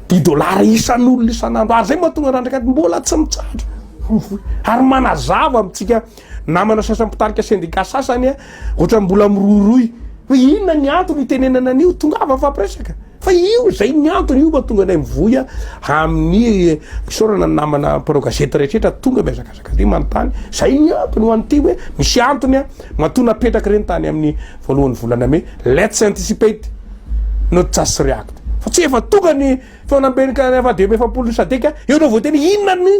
Speaker 2: tia dolara isan'olona isan'andro. Ary izay mahatonga randrak'ady mbola tsy mitsahatra mivoy. Ary manazava amintsika namana sasany mpitarika sendika sasany, ohatrany mbola mirohirohy hoe inona ny antony itenenana an'io, tongava mifampiresaka. Fa io izay ny antony, io mahatonga anay mivoy amin'ny fisaorana ny namana mpanao gazety rehetra tonga mihazakazaka. Zaka dia manontany, zay ny antony ho an'ity hoe misy antony an, matoa napetraka ireny tany amin'ny voalohan'ny volana mey, let's anticipate not just react, fa tsy efa tonga ny feonamben'ny avadb efapolo ny sadc an, eo no voateny inona no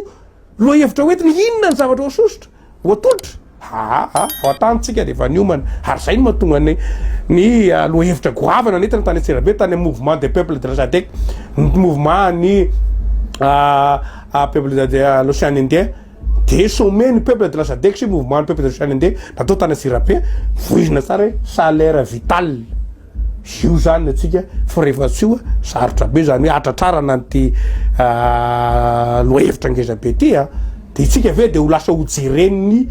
Speaker 2: lohahevitra ho entina, inona ny zavatra ho sosotra, ho atolotra, haa vao an-tany tsika dia efa niomana, ary zay no mahatonga ny ny lohahevitra goavana nentina tany antsirabe tany amin'ny mouvement des peuples de la sadc, ny mouvement an'ny ah peuple de l'océan indien de sommet ny peuple de la sadec sy mouvement ny peuple de l'océan indien natao tany Antsirabe voizina tsara hoe salaire vital io zany atsika fa rehefa tsy io sarotra be zany hoe atratrarana an'ity ah, lohahevitra ngeza be ty a ah. de itsika ve de ho lasa ho jeren'ny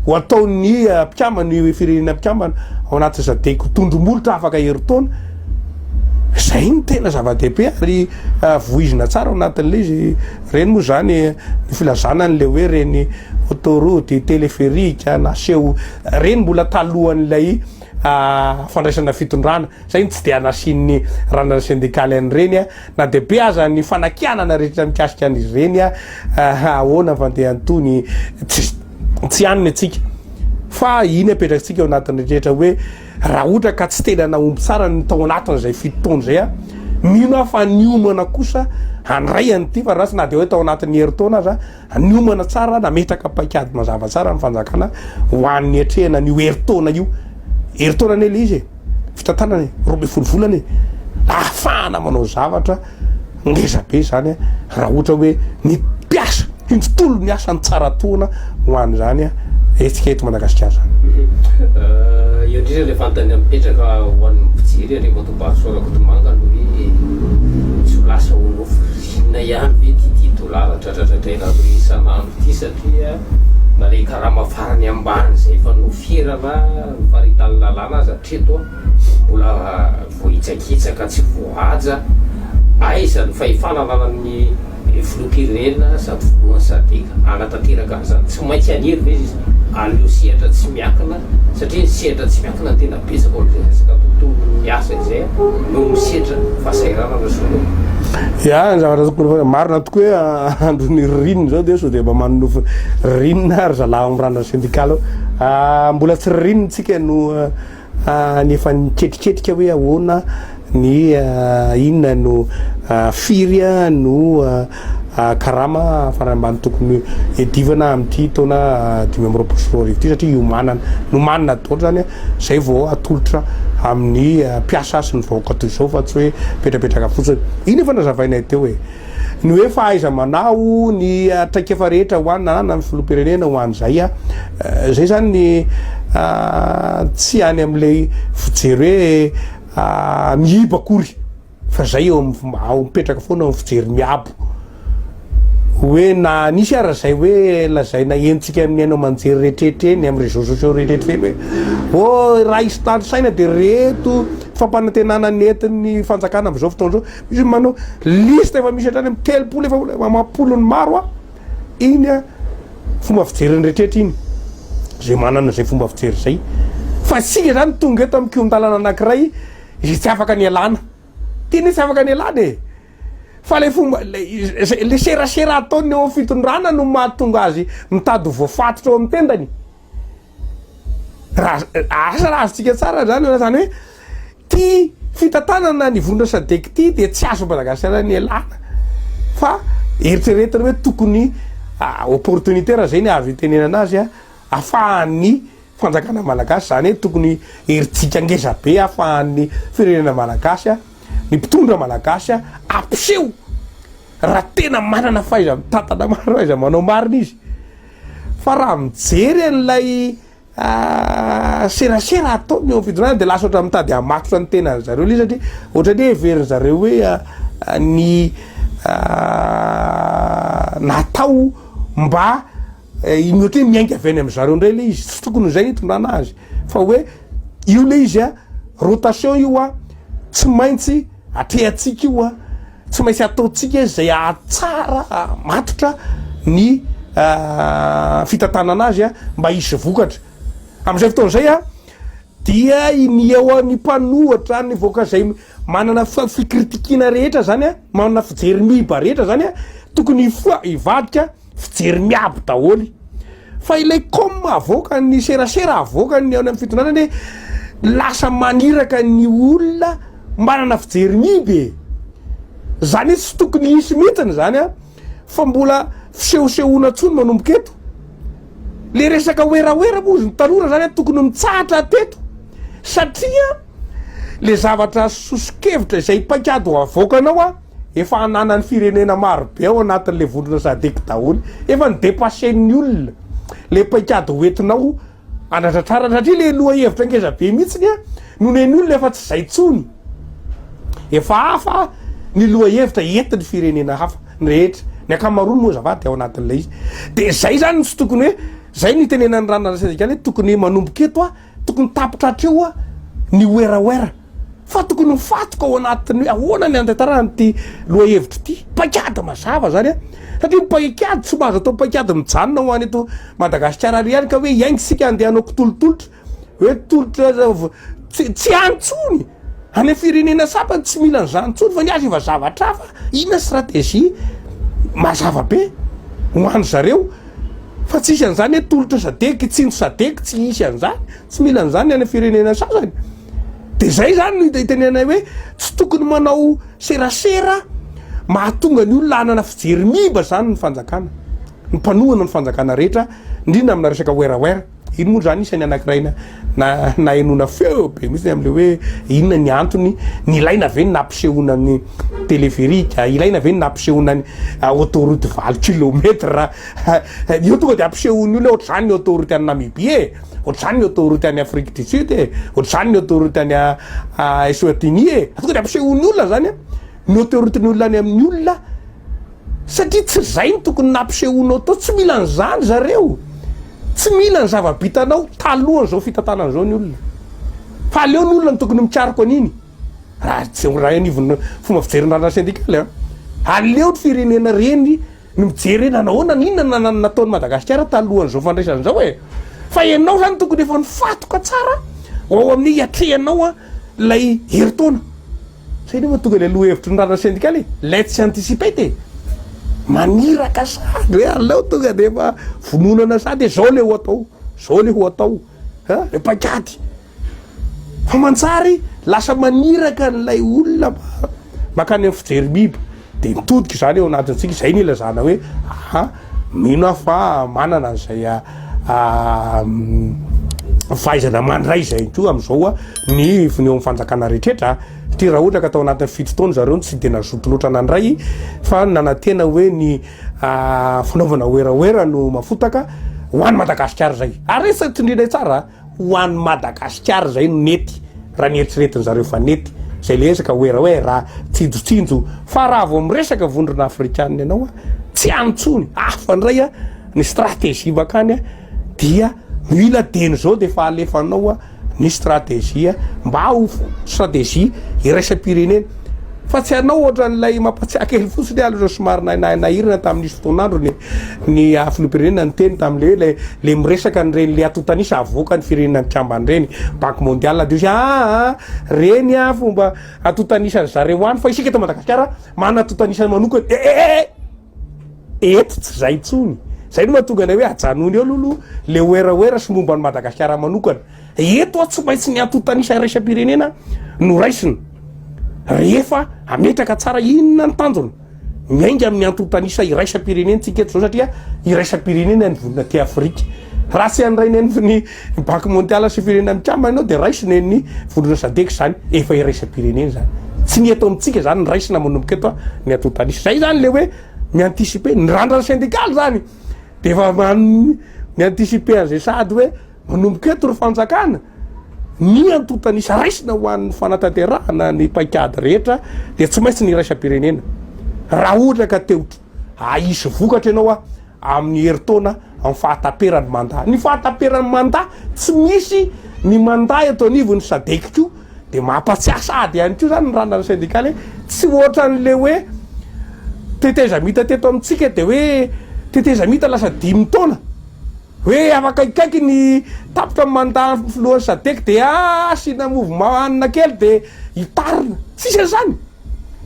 Speaker 2: Ho ataon'ny mpikambana ny firenena mpikambana ao anaty Sadec ho tondro-molotra afaka herintaona, izay no tena zava-dehibe ary voizina tsara ao anatin'ilay izy ireny moa izany ny filazana an'ilay hoe ireny autoroute, téléphérique naseho ireny mbola talohan'ilay fandraisana fitondrana, izay no tsy dia nasian'ny randrana sendikaly an'ireny na dia be aza ny fanakianana rehetra mikasika an'izy ireny, ahoana ny fandehany toa ny tsisy. tsy haniny atsika fa iny apetratsika ao anatin'ny rehetra hoe raha ohatra ka tsy tena nahomby tsara ny tao anatin' izay fito taona izay a mino aho fa niomana kosa handray an'ity fa ratsy na dia hoe tao anatin'ny herintaona aza niomana tsara nametraka paikady mazava tsara ny fanjakana ho an'ny atrehana an'io herintaona io herintaona anie le izy e fitantanana e, roa ambin'ny folo volana e, ahafahana manao zavatra ngeza be zany a, raha ohatra hoe ny mpiasa, ny tontolo ny asa ny tsara toana ho an'izany a, hetsika eto Madagasikara zany. Euh,
Speaker 1: eo indrindra le fantany mipetraka ho an'ny mpijery ary Matobahasoa Rakotomanga no hoe tsy ho lasa ho nofo rinina ihany ve ty ty dolara dradradradraina aloha isan'andro ty satria na le karama farany ambany zay efa nofirana Ny faritan'ny lalàna aza hatreto mbola voahitsakitsaka tsy voahaja. Aiza ny fahefana ananan'ny filoham-pirenena sady filohan'ny sadc hanatanteraka an'izany? Tsy maintsy hanery ve izy an'io sehatra tsy miankina satria ny sehatra tsy miankina no tena betsaka ao amin'izay resaka tontolon'ny asa izay no misedra fahasahiranana sy ny. Ya,
Speaker 2: ny zavatra tokony ho marina tokoa hoe andron'ny ririnina izao dia sao dia mba manonofy ririnina ry zalahy ao amin'ny ranona sendikaly ao. Mbola tsy ririnina tsika no ny efa niketriketrika hoe ahoana ny inona no firy no karama farany ambany tokony edivana amin'ity taona dimy amby roapolo sy roa arivo ity satria iomanana nomanina daholo zany zay vao atolotra amin'ny mpiasa sy ny vahoaka toy izao fa tsy hoe mipetrapetraka fotsiny iny efa nazavainay teo e Ny hoe fahaiza-manao ny traikefa rehetra ho an' an' ny filoham-pirenena ho an' izay a, izay izany ny tsy any amin' ilay fijery hoe mihiba akory fa izay eo amin' ny ao mipetraka foana eo amin' ny fijery miabo hoe na nisy ara izay hoe lazaina henontsika amin' ny haino aman-jery rehetrarehetra eny amin' ny réseaux sociaux rehetrarehetra eny hoe oh raha hisy tanisaina dia ireto fampanantenana nentin' ny fanjakana amin' izao fotoana izao. Izy manao liste efa misy hatrany amin'ny telopolo efa olona amam-polony maro a. Iny a fomba fijeriny rehetra iny. Izay manana izay fomba fijery izay. Fa isika izany tonga eto amin'ny kion-dalana anankiray izay tsy afaka ny hialana. Tena hoe tsy afaka ny hialana e. Fa ilay fomba ilay serasera ataony eo amin'ny fitondrana no mahatonga azy mitady ho voafatotra eo amin'ny tendany. Asa raha azontsika tsara izany na izany hoe ity fitantanana ny vondrona sadec ity dia tsy azon'i Madagasikara nialana fa eritreretina hoe tokony opportunité raha izay ny azo itenenana azy afahan'ny fanjakana malagasy izany hoe tokony herijika ngeza be afahan'ny firenena malagasy ny mpitondra malagasy ampiseho raha tena manana fahaiza-mitantana marina, fahaiza-manao marina izy. Fa raha mijery an'ilay serasera ataony eo amin'ny fitondrana dia lasa ohatran'ny mitady hamatotra ny tenan'ny zareo ilay izy satria ohatran'ny hoe heverin'ny zareo hoe ny natao mba iny ohatran'ny hoe miainga avy any amin'ny zareo indray ilay izy, tsy tokony izay hitondrana azy fa hoe io ilay izy a rotation io a tsy maintsy atrehantsika io a. Tsy maintsy ataontsika izay hahatsara matotra ny fitantanana azy mba hisy vokatra. Amin'izay fotoana izay dia iniao ny mpanohitra, ny vahoaka izay manana fikritikina rehetra izany, manana fijery miiba rehetra izany, tokony hifoha, hivadika. Fijery miabo daholo. Fa ilay com avoaka ny serasera avoaka ny any amin'ny fitondrana anie lasa maniraka ny olona manana fijery miiba e. Zany hoe tsy tokony hisy mihitsy ny zany an. Fa mbola fisehosehoana intsony manomboka eto. Le resaka werawera moa izy ny tanora zany an tokony mitsahatra hateto satria le zavatra sosokevitra izay paikady ho avoakanao an. Efa ananan'ny firenena maro be ao anatin'ilay vondrona sadec daholo. Efa ni-depassen'ny olona le paikady hoentinao anatratrarana satria le lohahevitra ngeza be mihitsy ny no nen'ny olona efa tsy izay tsony. Efa hafa ny lohahevitra entin'ny firenena hafa ny rehetra. Ny ankamaroany moa zava dia ao anatin'ilay izy. Dia izay zany no tsy tokony hoe zay no itenenan'ny ranona ara-stratejikaly hoe tokony manomboka eto a. Tokony tapitra hatreo ny werawera fa tokony ho fatoka ao anatin'ny hoe ahoana ny andraitarana ity lohahevitra ity. Paikady mazava zany a! Satria ny paikady tsy mba azo atao paikady mijanona ho an' eto Madagasikara ary ihany ka hoe hiainga isika andeha hanao kitolotolotra hoe tolotra tsy tsy any intsony! Any firenena saba tsy mila an'izany intsony fa ny azy efa zavatra hafa, inona stratégie mazava be ho any zareo fa tsy hisy an'izany hoe tolotra sadec, hitsinjo sadec, tsy hisy an'izany, tsy mila an'izany any firenena sasany. Dia izay izany no itenenanay hoe tsy tokony manao serasera mahatonga ny olona hanana fijery miiba izany ny fanjakana, ny mpanohana ny fanjakana rehetra, indrindra amina resaka werawera. Iny moa zany isany anankiray na nahenoana feo be mihitsy amin'ilay hoe inona ny antony nilaina ve ny nampisehoana ny téléphérique, ilaina ve ny nampisehoana ny autoroute valo kilomètre, io tonga dia ampisehoan'ny olona ohatr'izany ny autoroute any Namibie e, ohatr'izany ny autoroute any Afrique du Sud e, ohatr'izany ny autoroute any Eswatini e, tonga dia ampisehoan'ny olona zany ny autoroute ny olona any amin'ny olona satria tsy izay ny tokony nampisehoanao tao, tsy mila an'izany zareo. Tsy mila ny zava-bitanao talohan'izao fitantanana izao ny olona. Fa aleo ny olona no tokony mikaroka an'iny. Raha tsy raha anivon'ny fomba fijery ny raharaha sendikaly an. Aleo ny firenena ireny no mijery hoe nanao ahoana, inona no nataon'i Madagasikara talohan'izao fandraisana izao e. Fa ianao izany tokony efa nifatoka tsara ao amin'ny hiatrehanao ilay herintaona. Zay nefa tonga ilay lohahevitry ny raharaha sendikaly e! Let's anticipate e! Maniraka sahady hoe aleo tonga dia efa vononana sahady hoe zao ilay ho atao, zao ilay ho atao a! Ilay paikady. Fa mantsary lasa maniraka an'ilay olona mba mankany amin'ny fijerim-biby. Dia mitodika izany eo anatintsika, izay no ilazana hoe aha, mino aho fa manana an'izay fahaizana mandray izay koa amin'izao ny ivony eo amin'ny fanjakana rehetra. Satria raha ohatra ka tao anatin'ny fito taona zareo no tsy dia nazoto loatra nandray fa nanantena hoe ny fanaovana werawera no mafotaka ho an'i Madagasikara izay. Ary izay tsindrinay tsara. Ho an'i Madagasikara izay no nety raha ny eritreretin zareo fa nety izay le ezaka hoe hoe raha tsinjotsinjo fa raha vao miresaka vondrona afrikanina ianao a tsy any intsony hafa indray a ny strategie bakany a dia mila deny zao dia efa alefanao a ny strategie mba ho strategie iraisam-pirenena Fa tsy anao ohatran'ilay mampatsiahy kely fotsiny aho aloha somary nahinahina tamin'izy fotoan'andro ny ny filoham-pirenena niteny tamin'ilay hoe le miresaka an'ireny le atotanisa avoakan'ny firenena mikambana ireny banque mondiale de ah ah reny ah fomba atotanisa zareo any fa isika eto Madagasikara manana atotanisa manokana eh eh eh Eto tsy zay intsony. Zay no mahatonga anay hoe ajanony eo aloha aloha le oera oera sy momba an'i Madagasikara manokana. Eto aho tsy maintsy ny antontan'isa iraisam-pirenena no raisina rehefa ametraka tsara inona ny tanjona miainga amin'ny antontan'isa iraisam-pirenentsika eto zao satria iraisam-pirenena ny vonona aty Afrika. Raha tsy an'ny rainay ny Ny banky mondialy sy ny firenena mikambana ianao dia raisina eny ny vondrona sadec izany, efa iraisam-pirenena izany. Tsy ny eto amintsika izany ny raisina manomboka eto a, ny atout tanisy. Izay izany ilay hoe mi-anticiper, ny randrana sendikaly izany dia efa man- mi-anticiper an'izay sahady hoe manomboka eto ry fanjakana, ny atout tanisy raisina ho an'ny fanatanterahana ny paikady rehetra dia tsy maintsy ny iraisam-pirenena. Raha ohatra ka te ho Hahisy vokatra ianao a amin'ny herintaona amin'ny fahataperan'ny mandat. Ny fahataperan'ny mandat tsy misy ny mandat eto anivon'ny sadec ko dia mampatsiahy sahady ihany koa izany ny randrana sendikaly hoe tsy ohatran'ilay hoe tetezamita teto amintsika dia hoe tetezamita lasa dimy taona hoe afaka ikaiky ny tapitra mandat ny filohan'ny sadec dia asiana mouvement hanina kely dia hitarina. Tsisy an'izany.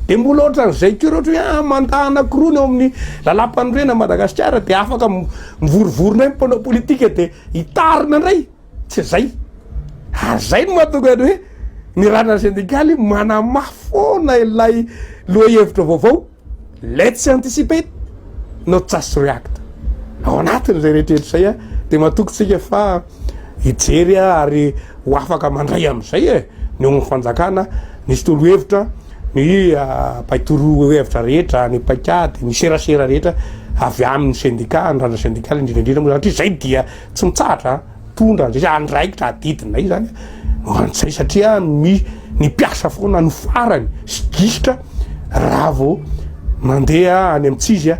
Speaker 2: Dia mbola ohatran'izay koa ohatra hoe ah, mandat anankiroa ny ao amin'ny lalam-panorenana Madagasikara dia afaka mivorivory indray ny mpanao politika dia hitarina indray, tsy izay. Ary izay no mahatonga ny hoe ny randrana sendikaly manamafy foana ilay lohahevitra vaovao Let's anticipate, not just react. Ao anatin'izay rehetra izay dia matoky tsika fa hijery ary ho afaka mandray amin'izay e ny ao amin'ny fanjakana nisy torohevitra ny ah, mpaitorohevitra rehetra ny paikady ny serasera rehetra avy amin'ny sendika ny randra sendikaly indrindraindrindra moa satria izay dia tsy mitsahatra tondra an'izay andraikitra adidinay izany no an'izay satria mi ny mpiasa foana no farany sy gisitra raha vao mandeha any amin'tsizya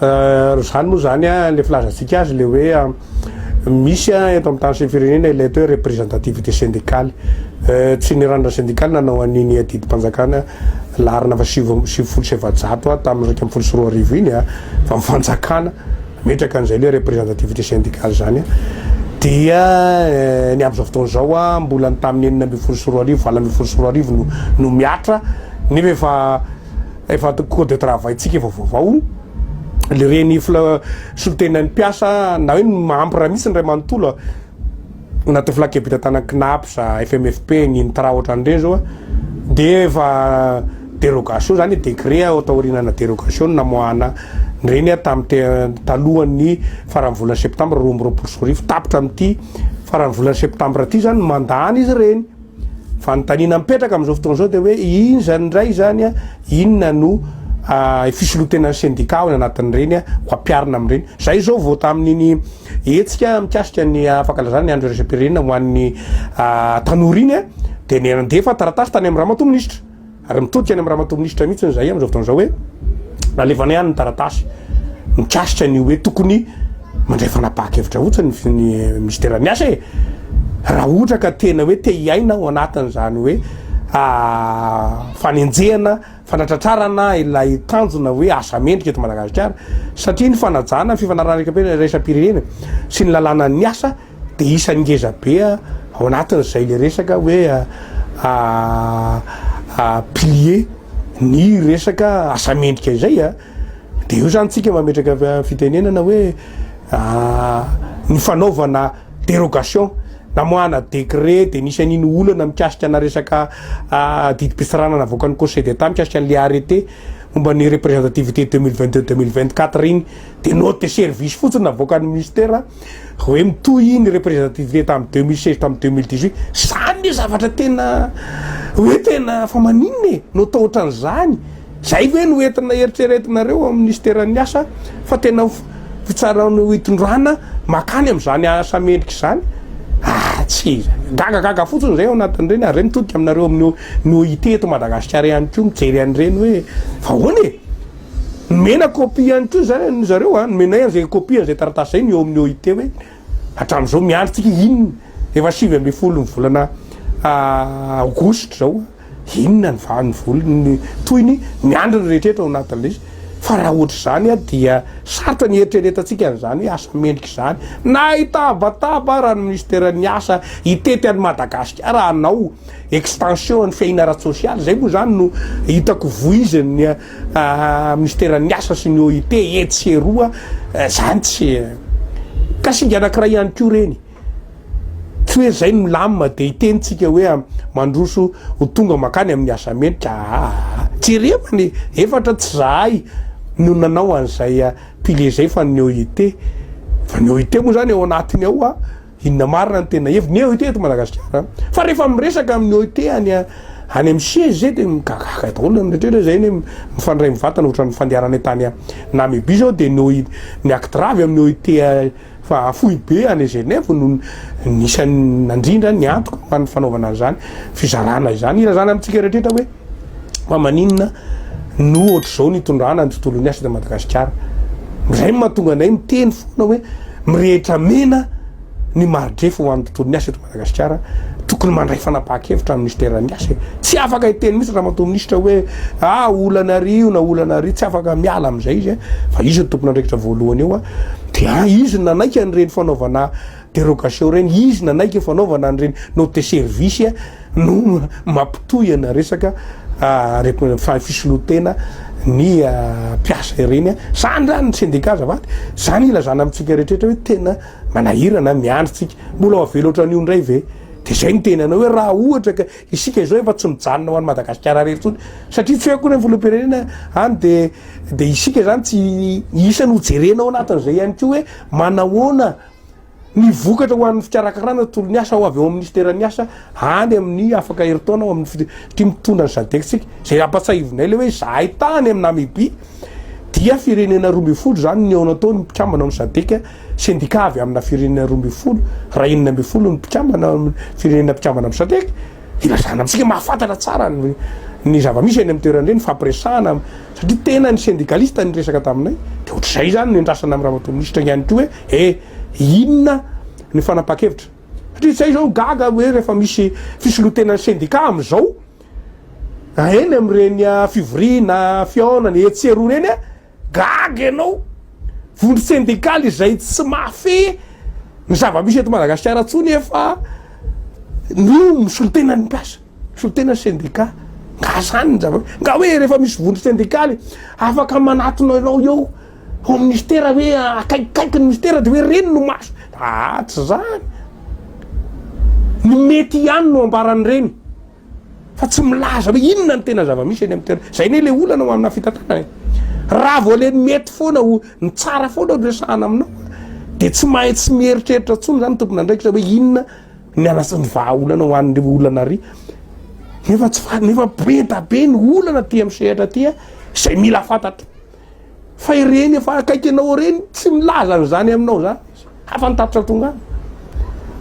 Speaker 2: Raha izany moa izany, ilay filazantsika azy ilay hoe misy eto amin'ny tany sy ny firenena ilay atao hoe representativité syndicale. Tsy ny ranona sendikaly nanao an'iny adidim-panjakana laharana fa sivy amby sivifolo sy efajato tamin'ny iraika ambin'ny folo sy roa arivo iny fa ny fanjakana metraka an'izay ilay representativité syndicale izany dia eh, ny amin'izao fotoana izao a mbola ny tamin'ny enina ambin'ny folo sy roa arivo valo ambin'ny folo sy roa arivo no, no miatra nefa efa Efa code de travail tsika efa vaovao le reny fla solontenan'ny mpiasa na hoe ny mahampy raha misy ny ray manontolo a na tovolahy kebita tana CNAPS a FMFP ny intra ohatran'ireny zao a de efa dérogation zany décret ao taorianana dérogation namoahana ny reny a tamin'ny te talohan'ny faran'ny volana septambra roa amby roapolo sy roa arivo tapitra amin'ity faran'ny volana septambra ty zany mandany izy reny Fanontaniana mipetraka amin'izao fotoana izao dia hoe iny izany indray izany a, inona no fisolotenan'ny sendika ao anatin'ireny a, ho ampiarina amin'ireny. Izay izao vao tamin'iny hetsika mikasika ny fankalazana ny andro iraisam-pirenena ho an'ny tanora iny a, dia nandefa taratasy tany amin'ny ramatoa minisitra. Ary mitodika any amin'ny ramatoa minisitra mihitsy izahay amin'izao fotoana izao hoe nalefanay any ny taratasy mikasika ny hoe tokony mandray fanapahan-kevitra fotsiny ny minisiteran'ny asa e! Raha ohatra ka tena hoe te hiaina ao anatin'izany hoe fanenjehana, fanatratrarana ilay tanjona hoe asa mendrika eto Madagasikara satria ny fanajana ny fifanarahana iraisam-pirenena sy ny lalànan'ny asa, Dia isan'ny ngeza be ao anatin'izay ilay resaka hoe pilier ny resaka asa mendrika izay. Dia eo izany tsika mametraka fitenenana hoe ny fanaovana dérogation namoahana décret dia nisy an'iny olana mikasika ana resaka didim-pitsarana navoakan'ny Conseil d'Etat mikasika an'ilay arrêté momba ny représentativité deux mille vingt deux deux mille vingt quatre iny. Dia note de service fotsiny navoakan'ny Ministera. Hoe mitohy iny representativité tamin'ny deux mille seize tamin'ny deux mille dix huit, zany le zavatra tena hoe tena fa maninona e? no atao ohatran'izany? Zay ve no entina eritreretinareo amin'ny Minisiteran'ny Asa fa tena fitsarana hitondrana makany amin'izany asa mendrika izany? Ah, tsy gagagaga fotsiny zay ao anatin'ireny ary zay mitodika aminareo amin'ny ny OIT eto Madagasikara ihany koa mijery an'ireny hoe fa ahoana e? Nomena copie ihany koa izany an, zareo an, nomenay an'izay copie an'izay taratasy izay ny eo amin'ny OIT hoe hatramin'izao miandry tsika inona, efa sivy ambin'ny folo ny volana aogositra izao an, inona ny va ny volana ny tohiny, miandry ny rehetra eto ao anatin'ilay izy, fa raha ohatr'izany an dia sarotra ny hieritreretantsika an'izany hoe asa mendrika izany, na hitabataba ara ny minisiteran'ny asa hitety an'i Madagasikara hanao extension an'ny fiaina ara-tsosialy, izay moa izany no hitako voizan'ny. Minisiteran'ny Asa sy ny OIT etsy sy eroa zany tsy ka singa anankiray ihany koa ireny. Tsy hoe zay no milamina dia hiteny tsika hoe mandroso ho tonga makany amin'ny asa mendrika aa. Jereo ny efatra tsy zahay no nanao an'izay pile zay fa ny OIT. Fa ny OIT moa zany ao anatiny ao. Inona marina ny tena heviny ny OIT eto Madagasikara? Fa rehefa miresaka amin'ny OIT any any amin'ny siège zay dia migagaka daholo ny rehetrarehetra zay ny mifandray mivatana ohatran'ny fandeharana entany Namibie zao dia ny OIT ny actre avy amin'ny OIT fa foibe any Genève no nisy nandrindra ny antoko mba ny fanaovana an'izany fizarana izany ilazana amintsika rehetrarehetra hoe Fa maninona no ohatr'izao nitondrana ny tontolon'ny asa eto Madagasikara? Izay no mahatonga anay miteny foana hoe mirehitra mena ny mari-drefa ho an'ny tontolon'ny asa eto Madagasikara, tokony mandray fanapahan-kevitra ny minisiteran'ny asa e! Tsy afaka hiteny mihitsy Ramatoa Minisitra hoe ah olana àry io na olana àry io, tsy afaka miala amin'izay izy e! Fa izy no tompon'andraikitra voalohany eo dia izy no nanaiky an'ireny fanaovana Dérogation reny izy nanaiky fanaovana an'ireny note service no mampitohy ana resaka fa fisolotena ny mpiasa ireny zany zany ny syndicat azafady zany ilazana amintsika rehetrretra hoe tena manahirana miandry tsika mbola avela ohatran'io indray ve de zay ny tena anao hoe raha ohatra ka isika izao efa tsy mijanona ho an'i Madagasikara rery tsony satria tsy hoe akory ny filoham-pirenena any de de isika zany tsy isany ho jerena ao anatin'izay ihany koa hoe manahoana Ny vokatra ho an'ny fikarakarana ny tontolo ny asa ho avy ao amin'ny minisiteran'ny asa any amin'ny afaka herintaona ao amin'ny fitia mitondra ny SADEC-tsika. Izay ampatsahivinay ilay hoe izahay tany amin'i Namibia dia firenena roa ambin'ny folo izany ny ao nataon'ny mpikambana ao amin'ny SADEC, sendika avy amina firenena roa ambin'ny folo raha enina ambin'ny folo ny mpikambana ao amin'ny firenena mpikambana amin'ny SADEC. Ilazana amintsika mahafantatra tsara ny zava-misy eny amin'ny toerana eny, nifampiresahana satria tena ny sendikalista niresaka taminay dia ohatr'izay izany no iandrasana amin'i Ramatoa Minisitra ihany koa hoe. E! Inona ny fanapahan-kevitra? Satria izay izao gaga hoe rehefa misy fisoloan-tenan'ny sendikà amin'izao, eny amin'ireny fivoriana, fihaonana etsy sy eroa ireny, gaga ianao. Vondro sendikaly izay tsy mahafehy ny zava-misy eto Madagasikara intsony efa ny misolo-tenan'ny mpiasa, misolo-tenan'ny sendikà. Nga izany ny zava-misy? Nga hoe rehefa misy vondro sendikaly afaka manatona anao eo? Ho ministera hoe akaikikaiky ny ministera dia hoe reny no maso. Aa tsy zany. Ny mety ihany no ambaran'ireny fa tsy milaza hoe inona ny tena zava-misy eny amin'ny toerana. Zay anie le olana ho amina fitantanana e. Raha vao le mety foana ho ny tsara foana no resahana aminao dia tsy mahay tsy mieritreritra intsony zany ny tompon'andraikitra hoe inona ny anasa ny vahaolana ho an'ireo olana ary nefa tsy fa nefa be da be ny olana aty amin'ny sehatra aty a izay mila fantatro. Fa ireny efa akaiky anao ireny tsy milaza an'izany aminao zany izy. Hafa ny tatitra tonga any.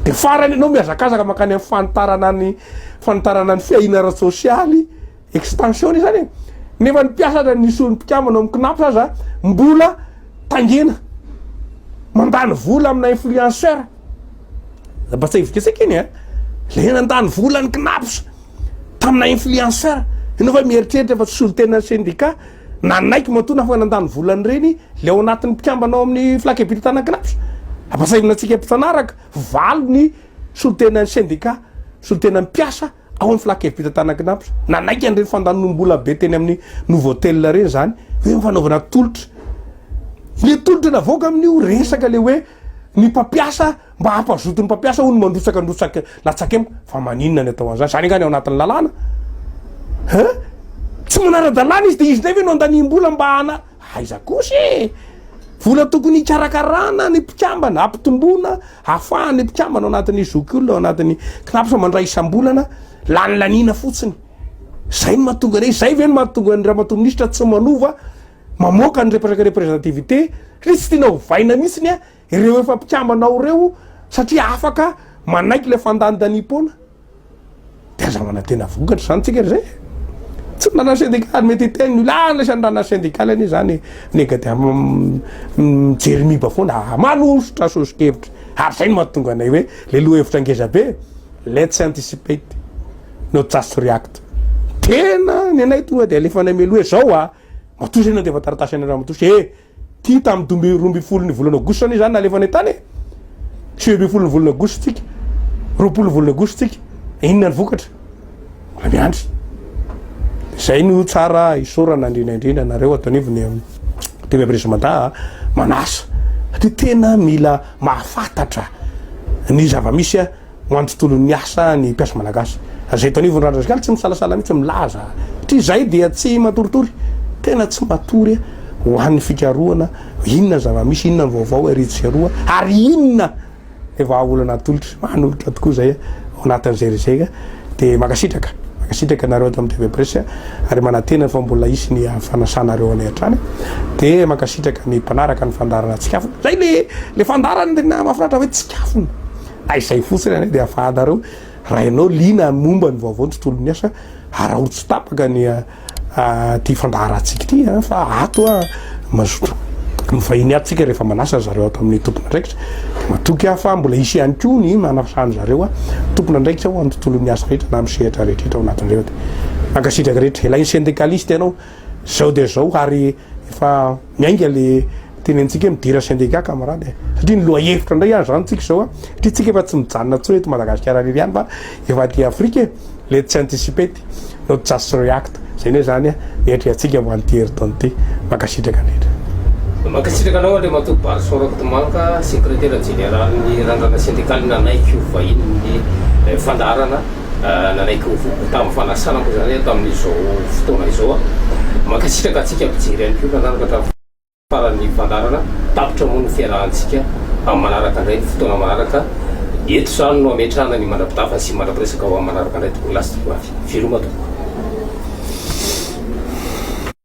Speaker 2: Dia farany ianao mihazakazaka mankany amin'ny fanitarana ny fanitarana ny fiahiana ara-tsosialy, extension izany e. Nefa ny mpiasa aza ny solon'ny mpikambana ao amin'ny Cnaps aza mbola tangena. Mandany vola amina influenceur. Mba tsy ahivonketseka iny eh. Le nandany vola ny Cnaps tamina influenceur. Ianao fa mieritreritra fa tsy solontenan'ny syndicat. Nanaiky matoa na fa nandany vola an'ireny ilay ao anatin'ny mpikambana ao amin'ny Flac Ebit Tanagraph. Ampahasahiana antsika mpifanaraka, valo ny solontenan'ny sendika, solontenan'ny mpiasa ao amin'ny Flac Ebit Tanagnapy. Nanaiky an'ireny fandanom-bola be teny amin'ny Novotel ireny izany hoe ny fanaovana tolotra. Ilay tolotra navoaka amin'io resaka ilay hoe ny mpampiasa. Mba hampazoto ny mpampiasa hono mandrotsaka ndrotsaka latsaka eo fa maninona ny atao an'izany? Izany angaha ny ao anatin'ny lalàna? Hein? Tsy manara-dalàna izy dia izy indray ve no andaniam-bola mba hana aiza kosa e! Vola tokony hikarakarana ny mpikambana, hampitomboana hafahana ny mpikambana ao anatin'ny zokiolona, ao anatin'ny CNAPS mandray isam-bolana, lany laniana fotsiny. Izay no mahatonga anay, izay ve no mahatonga ny ramatoa minisitra tsy manova, mamoaka ny represaka representativité, satria tsy tiana ovaina mihitsy ny Ireo efa mpikambana ao ireo satria afaka manaiky ilay fandanidaniam-poana. Dia aza manantena vokatra izany tsika izay e. Tsy ny ranar'ny sendikaly ary mety hiteny ny olona, ah anisan'ny ranar'ny sendikaly anie izany e. Nega dia mijery miba foana, ah, manosotra sosokevitra. Ary izay no mahatonga anay hoe ilay lohahevitra ngeza be, let's anticipate, not just react. Tena ny anay tonga dia alefanay mialoha hoe izao a, matoa izay nandefa taratasy anareo matoa, eh, Ity tamin'ny dimy amby roa ambin'ny folon'ny volana aogositra anie izany nalefany an-tany e. Sivy ambin'ny folon'ny volana aogositra tsika. Roapolo volana aogositra tsika. Inona ny vokatra? Mbola miandry. Izay no tsara isaorana indrindra indrindra anareo ato anivon'ny um, TV Abrege Mada manasa. Dia tena mila mahafantatra ny zava-misy Ho an'ny tontolon'ny asa ny mpiasa malagasy. Izay eto anivon'ny Randra Zikala tsy misalasala mihitsy milaza satria izahay dia tsy matoritory, tena tsy matory ho an'ny fikarohana inona ny zava-misy, inona ny vaovao ery sy eroa ary inona ny vahaolana atolotra. Manolotra tokoa izay ao anatin'izay resaka. Dia mankasitraka, mankasitraka anareo ato amin'ny TV Presse ary manantena fa mbola hisy ny fanasanareo anay hatrany. Dia mankasitraka ny mpanaraka ny fandaharana Tsikafona. Izay ilay fandaharana tena mahafinaritra hoe Tsikafona. Ka izay fotsiny anie dia afahanareo raha ianao liana amin'ny momba ny vaovao ny tontolon'ny asa araho tsy tapaka ny ity fandaharantsika ity a fa ato a mazoto mivahiny ato tsika rehefa manasa zareo ato amin'ny tompon'andraikitra dia matoky aho fa mbola hisy ihany koa ny manasany zareo a tompon'andraikitra ho amin'ny tontolon'ny asa rehetra na amin'ny sehatra rehetra ao anatin'ireo dia mankasitraka rehetra ilay ny syndicaliste ianao Zao dia zao ary efa miainga le tenentsika midira syndicat camarade e! satria ny lohahevitra indray ary zany tsika zao a! satria tsika efa tsy mijanona intsony eto Madagasikara irery ihany fa efa aty Afrika e! le tsy anticipate no just react zay anie zany a! ny atrehantsika ho an'ity herintaona ity! mankasitraka indrindra. Mankasitraka
Speaker 1: anao Andriamatoa Barison Rakotomanga, Sekretera Jeneralin'ny Randrana Sendikaly nanaiky ho vahinin'ny fandaharana. Nanaiky ho voky tamin'ny fanasanako izany tamin'izao fotoana izao. Mankasitraka antsika mpijery ihany koa nanaraka hatramin'ny faran'ny fandaharana. Tapitra moa ny fiarahantsika amin'ny manaraka indray, fotoana manaraka. Eto izany no hametrahana ny mandra-pitafa sy mandra-piresaka ho amin'ny manaraka indray tompoko lahy sy tompoko vavy. Veloma tompoko.